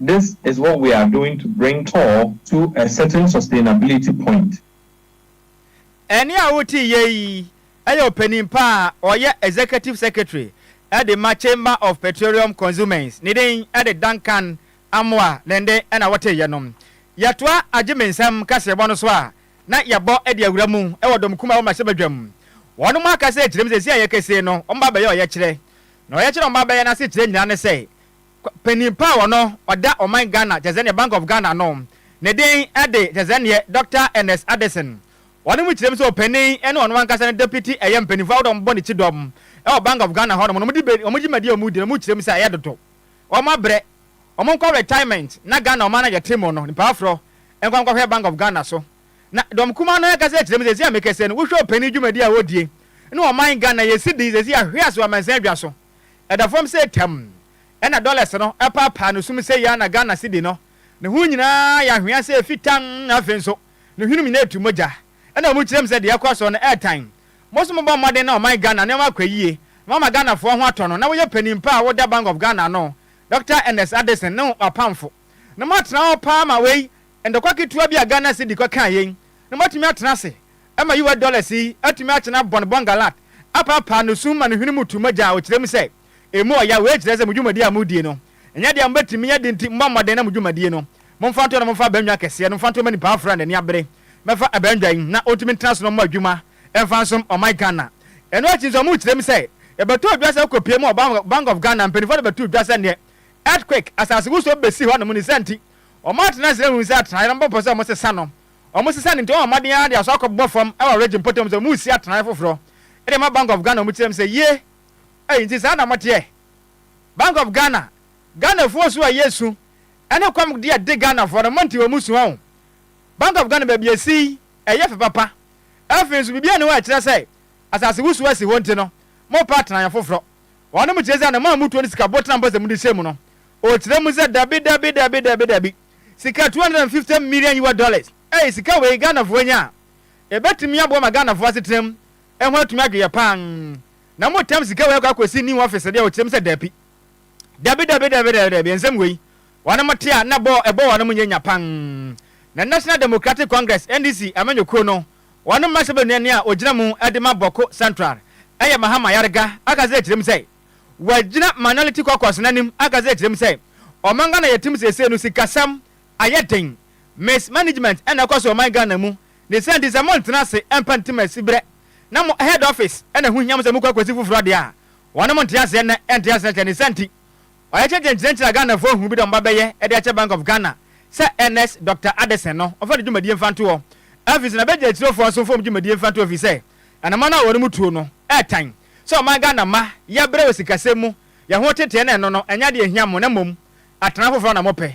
This is what we are doing to bring tall to a certain sustainability point. Ɛnne a wote yɛ yi yɛ ɔpanin pa a ɔyɛ Executive Secretary de ma Chamber of Petroleum Consumers, ne din de Duncan Amoah ne nne na wote yɛ no. Yɛtoa Agyemensɛm kaseɛbɔ no so a na yɛbɔ de awura mu wɔ Dɔm Kumaa wɔ Mmarahyɛbadwa mu. Wɔnom akasa akyerɛ mu sɛ seesei a yɛkasei no wɔn ba abɛyɛ ɔyɛkyerɛ. Na ɔyɛkyerɛ a wɔn ba abɛyɛ no asekyerɛ nyinaa ne sɛ, Panyin pa a ɔno ɔda ɔman Ghana kyɛ sɛ neɛ Bank of Ghana no ne den de kyɛ sɛ neɛ Dɔkta Ernest Addison. Ɔno mu kyerɛm sɛ ɔpanin ne ɔno ankasa ne Deputy ɛyɛ mpaninfoɔ ahodoɔ a wɔbɔ ne kyidɔm wɔ Bank of Ghana hɔ nom no wɔde wɔn dwumadie a wɔdi no mu kyerɛm sɛ ɛyɛ dodo. Wɔn abrɛ. Wɔn nkɔ retirement na Ghana ɔman no a yɛte mu no nipa aforɔ nkɔ nkɔhwɛ Bank of Ghana so. Na dɔm kumaa no ankasa kyerɛm sɛ seesei a mekasa yi no wohwɛ ɔpanin dwumadie a ɔdie ne ɔman Ghana yɛsi din seesei ahwe ase wɔ amansan dwa so. Ɛda fam sɛ tam. Ɛna dollars no ɛpaapaa no sum sɛ Yana Ghana cedi no. Ne ho nyinaa yɛ anhwea sɛ efi tann na afei nso ne hwenum nyinaa etu mogya. Ɛna wɔn kyerɛ mu sɛ deɛ ɛkɔ so no ɛɛtan. Mo nso mobɔ mmɔden na ɔman Ghana nneɛma akɔ yie na moama Ghanafoɔ ho atɔ no na woyɛ panin pa a woda Bank of Ghana ano, Doctor Ernest Addison ne wapamfo no moatena hɔ paa ma wei Ntɔkwa ketewa bi a Ghana cedi kɔ kaa yei na moatumi atena ase ma US dollars yi atumi akyena Bon Bon Gallant apaapaa no sum ma no hwene mu tu mogya a ɔkyerɛ mu sɛ ɛmu ɔya. Wei kyerɛ sɛ mo dwumadie a modie no nyɛ deɛ mobɛtumi yɛ de nti mommɔ mmɔden na mo dwumadie no momfa nto hɔ na momfa abannwa kɛseɛ no mfa nto hɔ ma nipa aforɔ a n'ani abere mmɛfa abannwa yi na ɔntumi ntena so na ɔmmɔ adwuma mfa nsom ɔman Ghana. Ɛno akyi nso mokyerɛ mu sɛ yɛbɛtɔ dwa sɛ kɔpie mu wɔ Bank of Ghana. Mpanimfoɔ no bɛtoo dwa sɛ neɛ earthquake, asasewosoɔ, bɛsi hɔ nom ne saa nti Wɔn atenase hunu sɛ atenaeɛ no bɛpɔ sɛ wɔsesa no. Wɔsesa no nti, wɔn mmɔden ara de aso akɔbobɔ fam wɔ Regi mpɔtam sɛ wɔresi atenaeɛ foforɔ de ama Bank of Ghana. Wɔkyerɛ mu sɛ, Yie! Ei, nti saa na moteɛ? Bank of Ghana, Ghanafoɔ su a ɛyɛ esu ne kɔm de adi Ghanafoɔ no, monte wɔn su ho. Bank of Ghana baabi a ɛsi yi, ɛyɛ fɛ papa. Afei nso, biribiara nni hɔ a ɛkyerɛ sɛ asasewosoɔ asi hɔ nti no, morepɛ atenaeɛ foforɔ. Wɔnom kyerɛ sɛ anamɔ a mutuo ne sika botena mpo sɛ mode hyɛ mu no, ɔkyerɛ mu sɛ dabi dabi dabi dabi dabi, sika 250 million ua dollars, ei sika wei Ghanafoɔ anya a, ɛbɛtumi aboa ma Ghanafoɔ asetena mu ho atumi adwoeɛ paa na motam sika wei akɔ akɔsi new office deɛ ɔkyerɛ mu sɛ dabi dabi dabi dabi dabi dabi, nsɛm wei wɔnom te a na ɛbɔ wɔnom nyɛ nya paa. Na National Democratic Congress, NDC, amanyɔkuo no, Wɔn mma sɛ bɛnua nea ɔgyina mu de ma Bawku Central yɛ Mahama Yarga aka sɛ kyerɛ mu sɛ wagyina Minority Caucus no anim aka sɛ kyerɛ mu sɛ ɔman Ghana yɛ tim seesei no sikasɛm ayɛ den Miss management na ɛkɔ so ɔman Ghana mu ne sɛ nti sɛ mo ntena ase mpa ntim asiberɛ na mo head office na ɛho hia mo sɛ mo kɔ akɔsi foforɔ deɛ a wɔnom nte aseɛ nnɛ nte aseɛ kyɛ ne sɛ nti Ɔyɛ kyɛnkyɛn kyerɛkyerɛ a Ghana foɔ hunu bi dɛ ɔmba bɛyɛ de akyɛ Bank of Ghana sɛ Ernest Doctor Addison no ɔmfa ne dwumadie mfa nto hɔ. Afei so na bɛgye akyire foɔ nso mfa wɔn dwumadie mfa nto hɔ ɛfiri sɛ anaman a wɔnom tuo no ɛɛtan sɛ ɔman Ghana mma yɛbrɛ wɔ sikasɛm mu, yɛn ho teteɛ na ɛno no ɛnyɛ adeɛ ɛhia mo na mmom atena foforɔ na mopɛ.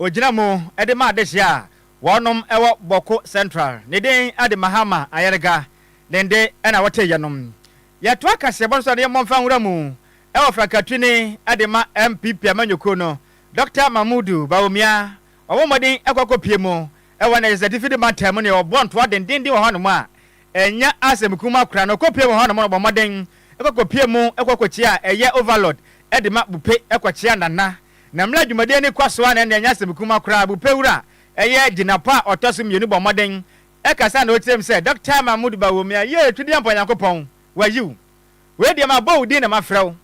Ogyina mu de ma adehye a wɔnom wɔ Bawku Central. Ne din de Mahama Ayerga. Ne nde na wɔte yɛnom. Yɛtoa kaseɛbɔ no so ne Yɛmmɔ Mfa Nwura Mu wɔ frankatwini de ma NPP amanyɔkuo no, Dɔkta Mahmudu Bawumia. Wɔabɔ mmɔden akɔ akɔpue mu wɔ Niger State Fido Mantam mu ne wɔbɔ ntoa dendeenden wɔ hɔnom a ɛnyɛ asɛm kumaa koraa no. Wɔkɔpue wɔ hɔnom no, wɔbɔ mmɔden kɔ kɔpue mu kɔ kɔkyia ɛyɛ Overlord de ma Bupe kɔkyia Nana Na mmerɛ a dwumadie no kɔ so ara na ɛnneɛ ɛnyɛ asɛm kuma koraa, Bupewura a ɛyɛ Gyinapɔ a ɔtɔ so mmienu bɔ mmɔden kasa na ɔteam sɛ, Dɔkta Mahmood Bawumia, yee, twɛdeɛ mpa Nyankopɔn, wayi wo. Wei deɛ mabɔ wo din na mafrɛ wo.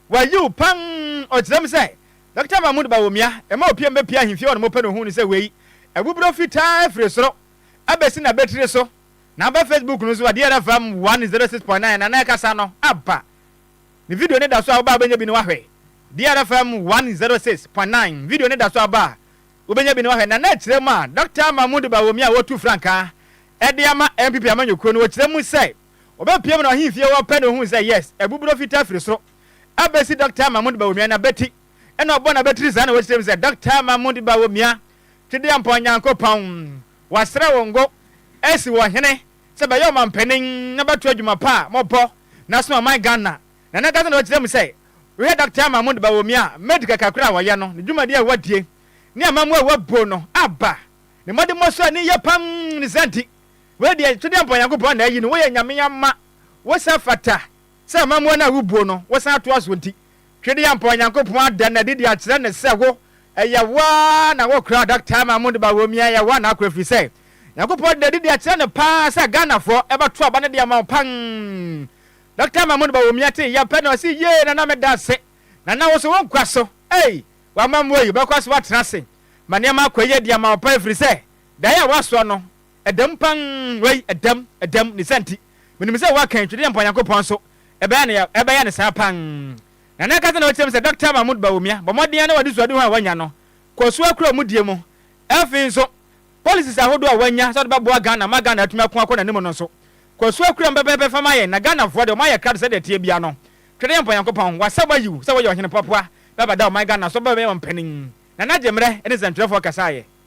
Wayi wo pam! Ɔteam sɛ, Dɔkta Mahmood Bawumia, ɛma opie mu bɛpue ahemfie hɔ na mopɛ no ohuu no sɛ wei, abuburo fitaa firi soro abɛsi n'abatiri so na aba Facebook no so, Adeɛrɛ FM one zero six point nine, Nana ɛkasa no aba. Me video no da so a wobɛ a wobɛnya bi na woahwɛ. DRFM one zero six point nine video no da so a wobɛ a wobɛnya bi na woahwɛ. Nana kyerɛ mu a Dɔkta Mahmood Bawumia a wɔtu frankaa de ama NPP amanyɔkuo no ɔkyerɛ mu sɛ ɔbɛpiam no ahemfie hɔ pɛ na ɔhuu sɛ yes abuburɔ fitaa firi soro abɛsi Dɔkta Mahmood Bawumia n'abati ɛna ɔbɔ n'abatiri saa na wɔkyerɛ mu sɛ Dɔkta Mahmood Bawumia Twedeɛmpɔn Nyankopɔn wasrɛ wo ngo asi wɔ hene sɛ bɛyɛ ɔmanpanin na bɛto adwuma pa a mɔbɔ na asom ɔman Ghana na na Ghana na wakyerɛ mu sɛ wohwɛ Doctor Ama Mundo Bawomia a Med kɛkɛ koro a wɔyɛ no ne dwumadi a wadie ne amamuo a wabuo no aba ne mmɔdemmɔ so ani yɛ pam ne saa nti wei deɛ todeɛ mpa Onyankopɔn na ayi no woyɛ Nyame ama wo sɛ fata sɛ amammuo no a wobuo no wosan toa soɔ nti, Twedeampɔn Nyankopɔn ada no adi de akyerɛ no sɛ wo, ɛyɛ wo ara na wokora adaka ma Amondi Bawumia, ɛyɛ wo ara na akora ɛfiri sɛ Nyankopɔn ada no adi de akyerɛ no pa ara sɛ Ghanafoɔ bɛto aba no de ama wo pann. Dɔkta Mahmoud Bawumia tee yɛ pɛ na ɔse yee Nana meda ase, Nana wo nso wo nkwa so ei, w'amammuo yi wobɛkɔ so atena ase ma nneɛma akɔ yie de ama wo pann ɛfiri sɛ daeɛ a woasoa no Ɛdam pan wei ɛdam ɛdam ne sa nti menim sɛ woaka ntwi deɛ mpa Nyankopɔn nso ɛbɛyɛ no ɛbɛyɛ no saa pan na na ɛka sɛ na ɔkyerɛ me sɛ Doctor Mahmood Bawumia bɔ mmɔden ara na w'ade suadehu a wanya no kɔ so akura ɔmo die mu ɛfei nso policies ahodoɔ a wanya sɛ ɔde bɛboa Ghana ma Ghana atumi ako akɔ n'anim no nso kɔ so akura mu pɛpɛɛpɛ fa ma yɛn na Ghanafoɔ deɛ ɔmo ayɛ krado sɛdeɛ ɛteɛ biara no Twe deɛ mpa Nyankopɔn wasa wayi wo sɛ woyɛ ɔhene poapoa bɛbɛda ɔman Ghana so bɛbɛyɛ ɔmampanin Nana Gyemmerɛ ne nsɛntwerɛfoɔ kasaeɛ.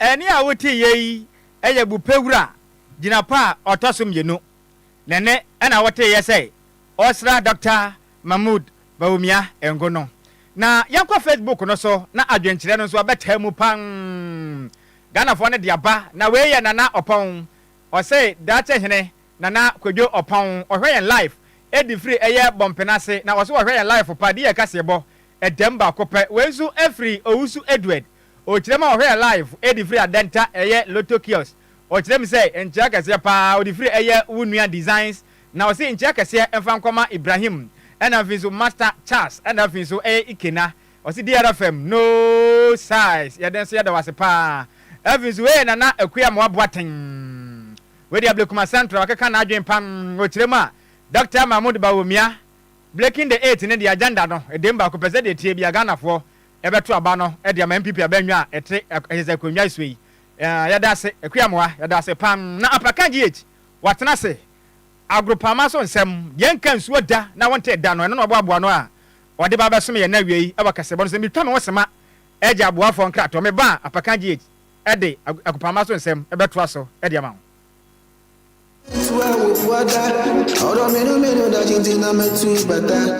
Ɛnne a woteeɛ yi yɛ Bupe Wura gyinapɔ a ɔtɔ so mmienu. Ne nne na woteeɛ sɛ ɔresra Dɔkta Mahmood Bawumia ngo no. Na yɛnkɔ Facebook no so na adwenkyerɛ no nso abɛtaa mu pang. Ghanafoɔ no de aba, na wei yɛ Nana Ɔpɔn, ɔse Daakye Hene Nana Kwadwo Ɔpɔn. Ɔhwɛ yɛn live ɛde firi ɛyɛ Bɔmpena ase, na ɔse ɔhwɛ yɛn live pa, de yɛn kaseɛbɔ ɛdam baako pɛ. Wei nso ɛfiri Owusu Edward Ɔkyerɛ ma ɔhwɛɛ live ɛde firi adɛnta ɛyɛ lotto kiosk ɔkyerɛ me sɛ nkyea kɛseɛ paa ɔde firi ɛyɛ wo nua designs na ɔse nkyea kɛseɛ mfa nkɔma Ibrahim ɛna afei nso master Charles ɛna afei nso ɛyɛ Ikena ɔse DRFM no size yɛde nso yɛda wo ase paa afei nso hey Nana Akua Amoah Boateng wei deɛ Blekuma Central wakeka n'adwene pam ɔkyerɛ mu a Doctor Mahmood Bawumia Bleking the eight ne deɛ agenda no ɛdem baako pɛ sɛdeɛ ɛteɛ biara Ghanafoɔ Yɛbɛto aba no de ama NPP aba nnwa a ɛte ɛyɛ sɛ akonnwa so yi. Yɛda ase Akua Amoa, yɛda ase pan na Aprakan GH watena ase. Agoropama so nsɛm, deɛ ɛnka nsuo da na wontee da no, ɛno na ɔboaboa ano a ɔde ba bɛsom yɛn nnɛ awiei wɔ Kɛsebɔ no so. Metwa me ho sema gye aboafoɔ nkratoɔ. Meba a, Aprakan GH de Agoropama so nsɛm bɛtoa so de ama wo.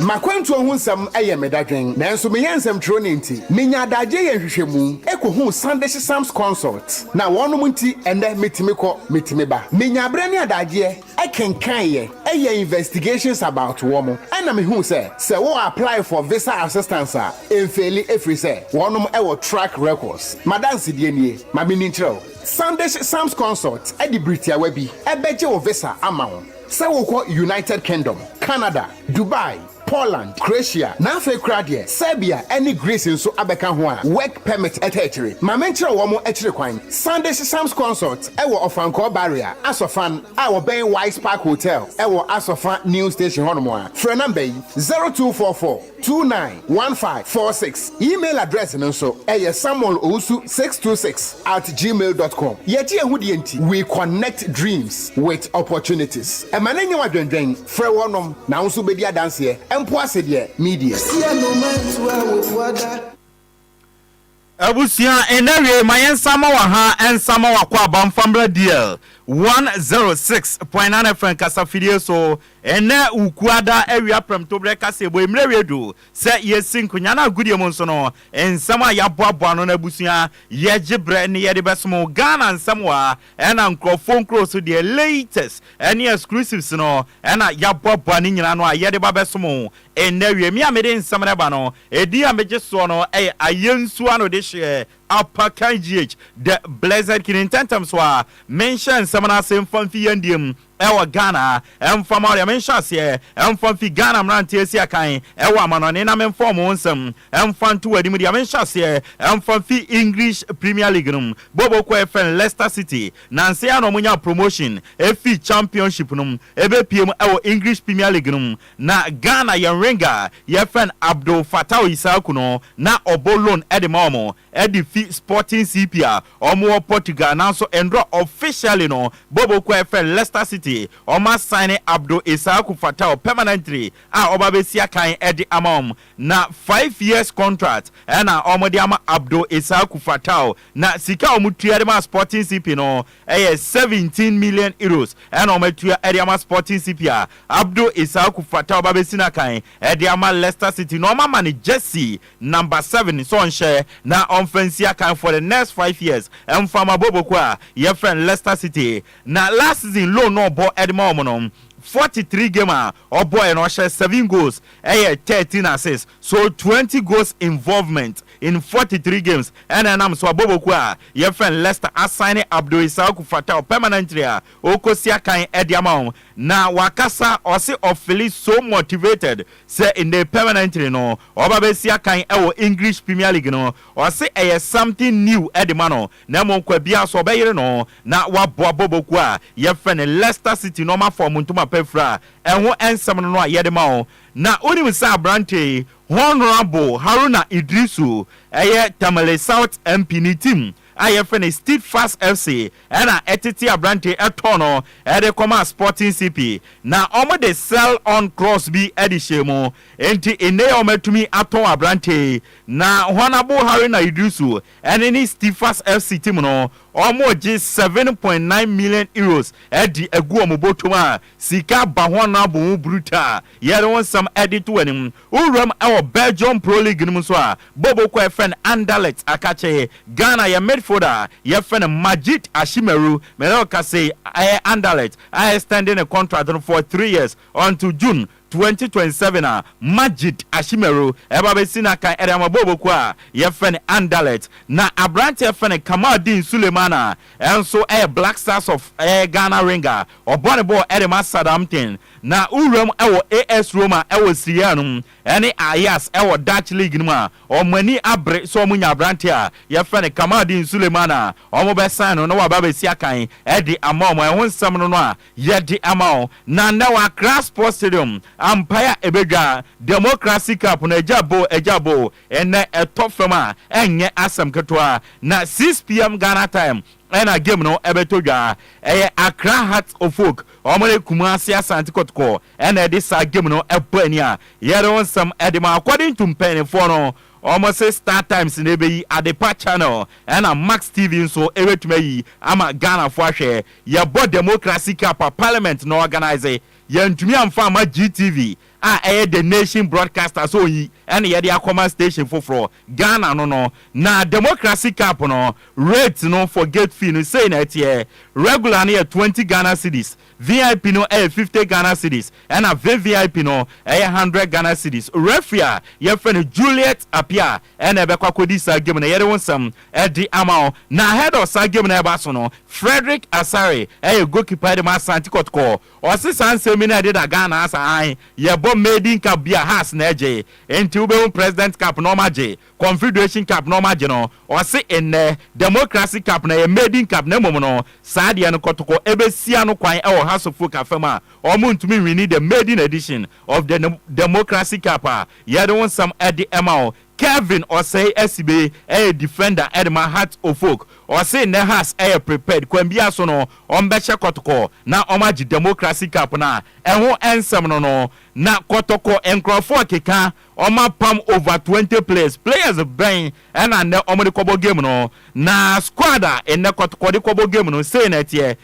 M'akwantuo ho nsɛm yɛ me dadwen, nanso meyɛ nsɛmtwerɛni nti, menya adagyeɛ yɛ nhwehwɛmu, kɔhu Sandishy Psalms Consult, na wɔnom nti ɛnnɛ metumi kɔ, metumi ba. Menya berɛ ne adagyeɛ kenkaneɛ, yɛ investigations about wɔn, ɛna mehuu sɛ, sɛ wo apply for visa assistance a, ɛnfeeli ɛfiri sɛ, wɔnom wɔ track records. M'adansedie nie, ma menni nkyerɛ wo. San de hyɛ Sam's Consult de bere tiawa bi bɛgye wo visa ama wo sɛ wokɔ United Kingdom, Canada, Dubai, Poland, Croatia, na afei koraa deɛ Serbia ne Greece nso abɛka ho a Work Permit taa akyire. Ma menkyerɛ wo wɔn akyiri kwan. San de hyɛ Sam's Consult wɔ Ɔfankɔɔ Barrier, Asɔfan, a wɔbɛn Wise Park Hotel wɔ Asɔfa New Station hɔnom a, frɛ nɔmba yi, 0244. two nine one five four six. Email address no nso yɛ samuel owusu six two six at gmail dot com. Yɛgye yɛn ho die nti, we connect dreams with opportunities. Ɛma no nyɛ wo adwendwen. Frɛ wɔnom na wo nso bɛdi adanseɛ. Mpo ase deɛ, me deɛ. Sia no mantua wo bua da. Abusua nnɛ wiei ma yɛn nsa ma wɔ ha nsa ma wakɔ aba mfa mmra deal 106.9 FM kasafidie so nnɛ wo kuada awia prɛmtoberɛ kaseɛbɔ mmerɛ wie du sɛ yɛsi nkonya no agodie mu nso no nsɛm a yɛaboaboa ano no abusua yɛgye berɛ ne yɛde bɛsomo Ghana nsɛm wa ɛna nkurɔfoɔ nkuro so deɛ latest ɛne exclusives no ɛna yɛaboaboa ne nyina no a yɛde ba bɛsomo Ɛnnɛ, wiem a mede nsɛm no reba no, edin a megye soɔ no yɛ Ayɛ Nsuo Ano Dehyeɛ, Apa Kan GH. The Blessed Kidney. Ntɛntɛm so ara, menhyɛ nsɛm no ase mfa mfi yɛn deɛ mu wɔ Ghana, ɛmfa mma wo deɛ, menhyɛ aseɛ mfa mfi Ghana mmeranteɛ asi akan wɔ amanɔne na memfa wɔn nsɛm mfa nto w'adi mu deɛ, menhyɛ aseɛ mfa mfi English Premier League no mu bɔbɔkuo a yɛfrɛ no Leicester City, nansa yi ara na wɔnyaa promotion fii Championship no mu bɛpue mu wɔ English Premier League no mu. Na Ghana yɛn winger a yɛfrɛ no Abdul Fattau Issahaku no na ɔbɔ loan de ma wɔn de fi Sporting CP a wɔwɔ Portugal nanso nnora officially no Bobo kuo a yɛfrɛ no Leicester City wɔn asaene Abdul Issahaku Fattau permanently a ɔba bɛsi akan de ama wɔn na five years contract na wɔde ama Abdul Issahaku Fattau na sika a wɔtua de ma Sporting CP no Ɛyɛ seventeen million euros na wɔatua de ama Sporting CP a Abdul Issahaku fata a ɔbabɛsi no akan de ama Leicester City na wɔama no jersey number seven sɛ ɔnhyɛ na ɔmfa nsi akan for the next five years mfa ma bɔbɔkuo a yɛfrɛ no Leicester City. Na last season loan na ɔbɔ de ma wɔn no forty three game a Ɔbɔe no ɔhyɛ seven goals ɛyɛ thirteen assists so twenty goals involvement in forty three games ɛna ɛnam so abɔbɔkuo a yɛfrɛ no Leicester asaene Abdul Issaoku Fataw permanently a ɔrekɔsi akan de ama wɔn na wakasa ɔse ɔfili so motivated sɛ nnɛ permanently no ɔba bɛsi akan wɔ English Premier League no ɔse ɛyɛ something new de ma no na mmom kwa biara so ɔbɛyere no na wɔaboa bɔbɔkuo a yɛfrɛ no Leicester City na wɔn afa wɔn ntoma pa afira a ɛho nsɛm no no a yɛde ma wɔn. Na wonim sɛ aberanteɛ yi, Honourable Haruna Iddrisu, ɛyɛ Tamale South MP ne team a yɛfrɛ no Steadfast FC ɛna ɛtetee aberanteɛ yi ɛtɔɔ no ɛde kɔmaa Sporting CP na wɔde sell on clause bi ɛde hyɛɛ mu. Enti nnɛ yi a wɔatumi atɔn aberanteɛ yi na Honourable Haruna Iddrisu Ɛne ne Stifas FC team no, wɔregye seven point nine million euros de agu wɔn bɔtɔm a sika ba ho anaa bɔ ho buruta a yɛde wo nsɛm de to w'anim. Wowuram wɔ Belgium Pro League no mu nso a, Boboko a yɛfrɛ no Anderlecht aka kyɛe. Ghana, yɛn midfielder a yɛfrɛ no Majid Ashimeru, me ne wo kasa yi, ɛyɛ Anderlecht a extend ne contract no for three years until June twenty twenty seven a Majid Ashimeru ɛba bɛsi n'akan ɛde ama bɔɔl bokuo a yɛfrɛ no Anderlecht na aberanteɛ yɛfrɛ no Kamaldeen Suleiman a ɛnso ɛyɛ Black Stars of ɛyɛ Ghana Ringer a ɔbɔ ne bɔɔl ɛde ma Southampton na wowura mu ɛwɔ AS Roma ɛwɔ Serie A no mu ɛne Ajax ɛwɔ Dutch League no mu a wɔn ani abere sɛ wɔn nya aberanteɛ a yɛfrɛ no Kamaldeen Suleiman a wɔn bɛsan no na waba abɛsi akan ɛde ama wɔn ɛho nsɛm no no a Yɛde ama wo na nnɛ wɔ Accra Sports Stadium ampae a ɛbɛdwa Democracy Cup no agya boo agya boo nnɛ ɛtɔ fam a ɛnyɛ asɛm ketewa na 6pm Ghana time ɛna game no ɛbɛtɔ dwa ɛyɛ Accra Hearts of Oak wɔn ne Kumasi Asante Kotoko ɛna ɛde saa game no ɛbɔ ani a yɛde wo nsɛm ɛde ma according to mpaninfoɔ no wɔn se Star Times na ɛbɛyi Adepa Channel ɛna Max TV nso ɛbɛtumi ayi ama Ghanafoɔ ahwɛ Yɛbɔ Democracy Cup a Parliament na ɔɔganase. Yɛantumi amfa amma GTV a ɛyɛ The Nation Broadcaster sɛ ɔnyi ɛna yɛde akɔma station foforɔ. Ghana no no. Na Democracy Cup no rate no for gate fee no sei na ɛteɛ, Regular no yɛ twenty Ghana cedis, VIP no ɛyɛ fifty Ghana cedis, ɛna VVIP no ɛyɛ hundred Ghana cedis. Referee a yɛfrɛ no Juliet Appiah ɛna ɛbɛkɔ akɔdi saa game no, yɛde wo nsɛm de ama wo. Na ahead of saa game no a ɛba so no, Frederick Asare ɛyɛ goalkeeper de ma Asante Kɔtɔkɔ, ɔse saa nsɛm yi na ɛdeda Ghana ase, aane, yɛbɔ maiden cup bi a, Hearts na ɛgye, nti wobɛhu President Cup na wɔagye, Confederation Cup na wɔagye no, ɔse nnɛ, Democracy Cup no ɛyɛ maiden cup na mmom no, saa deɛ no Kɔtɔkɔ ɛbɛsi ano kwan wɔ House of Folk afa mu a, wɔntumi nwini the maiden edition of the Democracy Cup a yɛde wo nsɛm de ma wo. Kelvin Osei Asibe yɛ defender de ma Hearts of Oak. Ɔse nnɛ Hearts yɛ prepared, kwan biara so no wɔbɛhyɛ kɔtɔkɔ na wɔagye Democracy Cup no a ɛho nsɛm no no. Na kɔtɔkɔ nkurɔfoɔ keka wɔapam over twenty players. Players bɛn na nnɛ wɔde kɔbɔ game no? Na squad a nnɛ kɔtɔkɔ de kɔbɔ game no sei na ɛteɛ.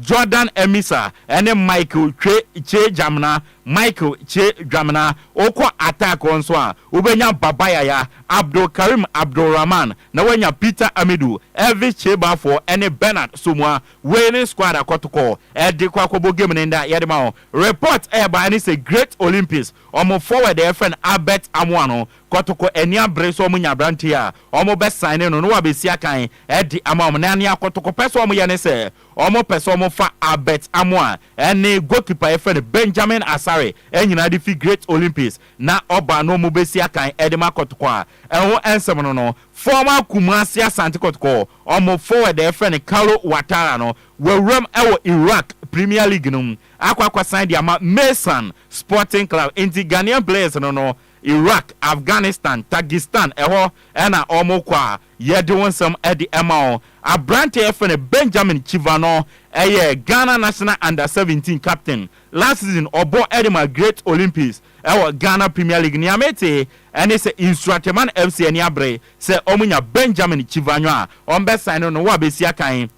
Jordan Amissah ne Michael Kwe Kye Djamena, Michael Kye Dwamena. Wokɔ attack hɔ nso a, wobɛnya Baba Yaya, Abdul Karim Abdul Rahman, na woanya Peter Amidu, Elvis Kyebafoɔ ne Bernard Somua. Wei ne squad a kɔtokɔ de kɔ akɔbɔ game no nnɛ. Yɛde ma wo. Report a ɛbaeɛ ne sɛ Great Olympics, wɔn forward a yɛfrɛ no Albert Amoah no, kɔtoko ani abere sɛ wɔnya aberanteɛ a wɔbɛsan ne no na wabɛsi akan adi ama wɔn na nea kɔtoko pɛ sɛ wɔyɛ ne sɛ wɔpɛ sɛ wɔfa Albert Amoah ne goalkeeper a yɛfrɛ no Benjamin Asare nyinaa de fi Great Olympics na wɔba na wɔbɛsi akan de ma kɔtoko a ɛho nsɛm no no former Kumasi Asante Kɔtoko wɔn forward a yɛfrɛ no Carlo Watara no wawuram wɔ Iraq Premier League no mu akɔ akɔsan de ama Meysan Sporting Club nti Ghanaian players no no Iraq, Afghanistan, Tagistan ɛhɔ na ɔmo kɔ a yɛde wo nsɛm de ma wo. Aberante a yɛfrɛ no Benjamin Chiva no yɛ Ghana National Under Seventeen captain. Last season ɔbɔ de maa Great Olympics wɔ Ghana Premier League. Nea mete ne sɛ Nsuateman FC ani abere sɛ ɔmo nya Benjamin Chivanyo a ɔmo bɛ sign no no wɔ abɛsi akan.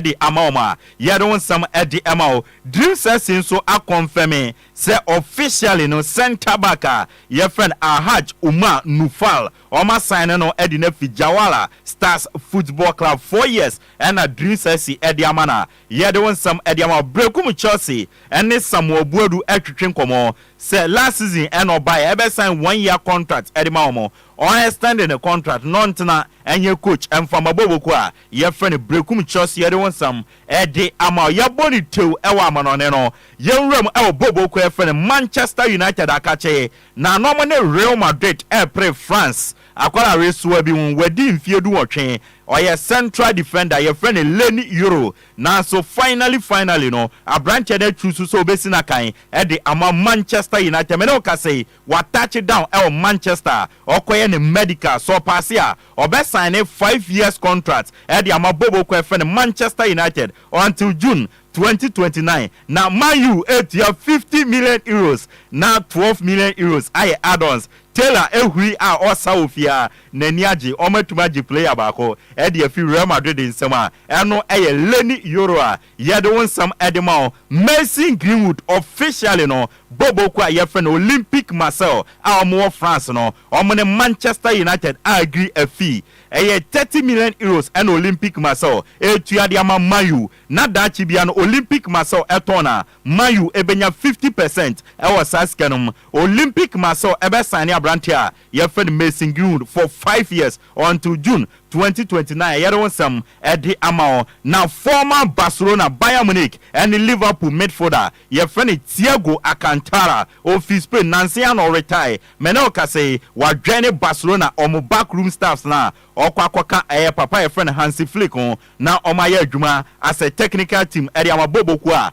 de ama wɔn a, yɛde wo nsɛm de ma wo. Dream Sexy nso akɔnfɛme sɛ officially no centre back a yɛfrɛ no Alhaj Umar Nufal, wɔasaene no de no afi Jawara Stars Football Club, four years na Dream Sexy de ama no a, yɛde wo nsɛm de ama wo. Berɛku mu Chelsea ne Samuel Boadu retwetwe nkɔmmɔ sɛ last season na ɔbaeɛ, ɛbɛsan one year contract de ma wɔn, wɔn extend ne contract na ɔntena nyɛ coach mfa mma Boboku a, Yɛfrɛ no Berekum kyerɛ sɛ yɛde wo nsɛm de ama wo. Yɛbɔ no tew wɔ amanɔne no yɛn nwura mu wɔ Bobo kuo a yɛfrɛ no Manchester United akakye na na ɔmo ne Real Madrid repere France akwadaa awesoa bi ho wadi mfeɛ dunwɔtwe ɔyɛ central defender yɛfrɛ no Leny Yoro nanso finally finally no aberanteɛ no aturu so sɛ ɔbɛsi no akan de ama Manchester United me ne wo kasa yi Wa touch down ɛwɔ Manchester a ɔkɔyɛ ne medical, sɛ ɔpaase a ɔbɛ signe five years contract ɛde ama Bobo kɔ ɛfɛ no Manchester United until June twenty twenty nine na Man U ɛtua fifty million Euros na twelve million Euros ayɛ add ons Taylor ɛhuri a ɔsa wɔ fie a n'ani agye ɔmo atumi agye player baako ɛde afi Real Madrid nsam a ɛno ɛyɛ Leny Yoro a Yɛde wo nsɛm de ma wo. Mason Greenwood officially no bɔbɔ kuo a yɛfrɛ no Olympique Marseille a wɔn wɔ France no wɔn ne Manchester United a agree afi ɛyɛ thirty million euros ɛna Olympique Marseille ɛretua de ama Man U na daakye biara no Olympique Marseille ɛtɔn no a Man U ɛbɛnya fifty percent ɛwɔ saa sika no mu Olympique Marseille ɛbɛ sign abranteɛ a Yɛfrɛ no Mason Greenwood for five years until June twenty twenty nine. Ɛyɛ wo nsɛm de ama wo na former Barcelona, Bayern Munich ne Liverpool midfielder a yɛfrɛ no Thiago Alcantara. Ofi Spain. Nnansa yi ara na ɔretae. Me ne wo kasa yi, wadwɛne Barcelona wɔn back room staffs no a ɔkɔ akɔka ɛyɛ papa a yɛfrɛ no Hansi Flick ho na wɔayɛ adwuma as a technical team de ama Bobo kuo a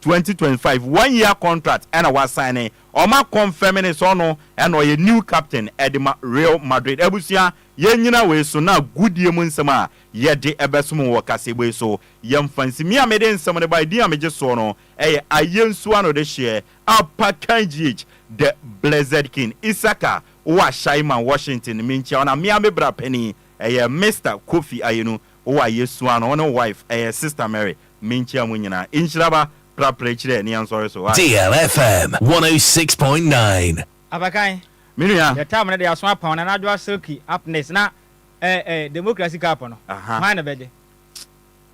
twenty twenty five one year contract ɛna wa sign ne ɔmo akɔnfɛm ne sɛ ɔno ɛna ɔyɛ new captain ɛde ma Real Madrid abusua yɛn nyina wei so na agudie mu nsɛm a yɛde ɛbɛsom wɔ wɔ kaseɛbɔ yi so yɛn nfa nsi me a mede nsɛm no bae din a megye soɔ no ɛyɛ Ayensu ano de hyeɛ Apa Kanjich the Blessed King Isaka Uwashaiman Washington menkyia wo na me a me bra panin ɛyɛ Mister Kofi Ayenu Wo a yesua no, wo ne wo wife, ɛyɛ Sister Mary, menkyia mo nyinaa. Nhyira ba, pra pra akyire ne yɛnsɔre so. Aye. Deal FM 106.9. Abakan, Me nua. yɛ term no de aso apa wɔn anadwo asilky upness na eh eh democracy cup no Aha. hwan na ɛbɛgye?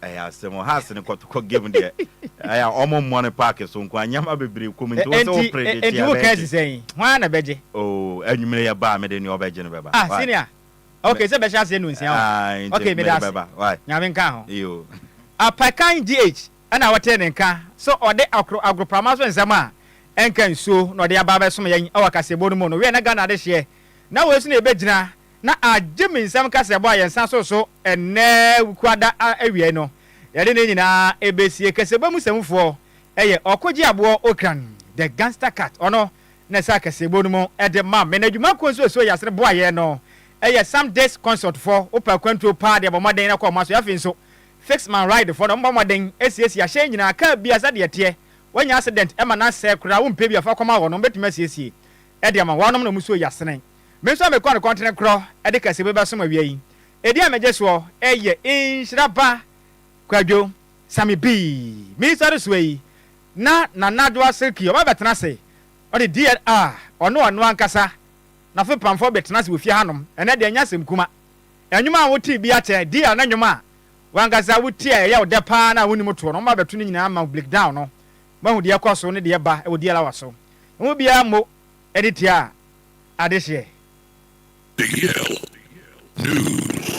Ɛyɛ asɛm o, Hearts no kɔtokɔ game deɛ ɛyɛ a wɔn mmɔ no park so nko ara, nneɛma bebree kɔ mu nti wo sɛ wo Enti predict enti a wo ka ɛbɛgye. asi sɛn? Hwan na ɛbɛgye? Oh, anwummere yɛ ba a mede nea ɔbɛgye no bɛba. Ah Why? senior. Ok sɛ bɛhyɛ aseɛ no nsia o ok meda ase nyame nka ho apakan GH ɛna wɔtee ne nka sɛ ɔde akoro agoroprama so nsɛm a ɛnka nsuo na ɔde aba abɛsom yɛn ɛwɔ kaseɛbɔ no mu no wiɛ na Ghana adehyeɛ na wei so na yɛbɛgyina na agye me nsɛm kaseɛbɔ a yɛn nsa so so ɛnnɛ wukuada awiɛ no yɛde ne nyinaa ɛbɛsie kaseɛbɔ mu sɛmufoɔ ɛyɛ ɔkogye aboɔ okran the gangster cat ɔno na ɛsɛ akɛseebɔ no mu de ma me, na adwuma koro nso a ɛsɔ Yasere bo a yɛyɛ no yɛ Some Disc Consult fɔ, wopɛ akwantuo pa ara de bɔ mmɔden na kɔ wɔn aso, afei nso Fix Man Ride fɔ no, wɔbɔ mmɔden siesie ahyɛn nyinaa, kaa biara sɛdeɛ ɛteɛ, wanya accident ma no asɛe koraa a wompɛ bi a fa kɔma wɔn, wɔbɛtumi asiesie de ama wo, wɔnom na wɔsɔ Yasere. Me nso a mekɔ no kɔntene korɔ de kaseebɔ bɛsom awia yi, ɛdin a megye soɔ yɛ Nhyira Ba Kwadwo Same Bii, me nsɔresoɔ yi na Nana Addo Aserkyi ɔba bɛtena ase, ɔde deɛ a ɔne ɔno ankasa n'afepamfoɔ bɛtena ase wɔ fie hanom, ɛnɛ deɛ ɛnyɛ asɛm kuma. Nnwom a wotee biara kyɛn deal ne nnwom a w'ankasa wotie a ɛyɛ wo dɛ paa no a wonnim toɔ no, wɔn abɛto ne nyinaa ama wo bleakdown no, moahu deɛ ɛkɔ so ne deɛ ɛba wɔ deal hour so. Emu biara mmo ani tiaa adehyeɛ. Deal news.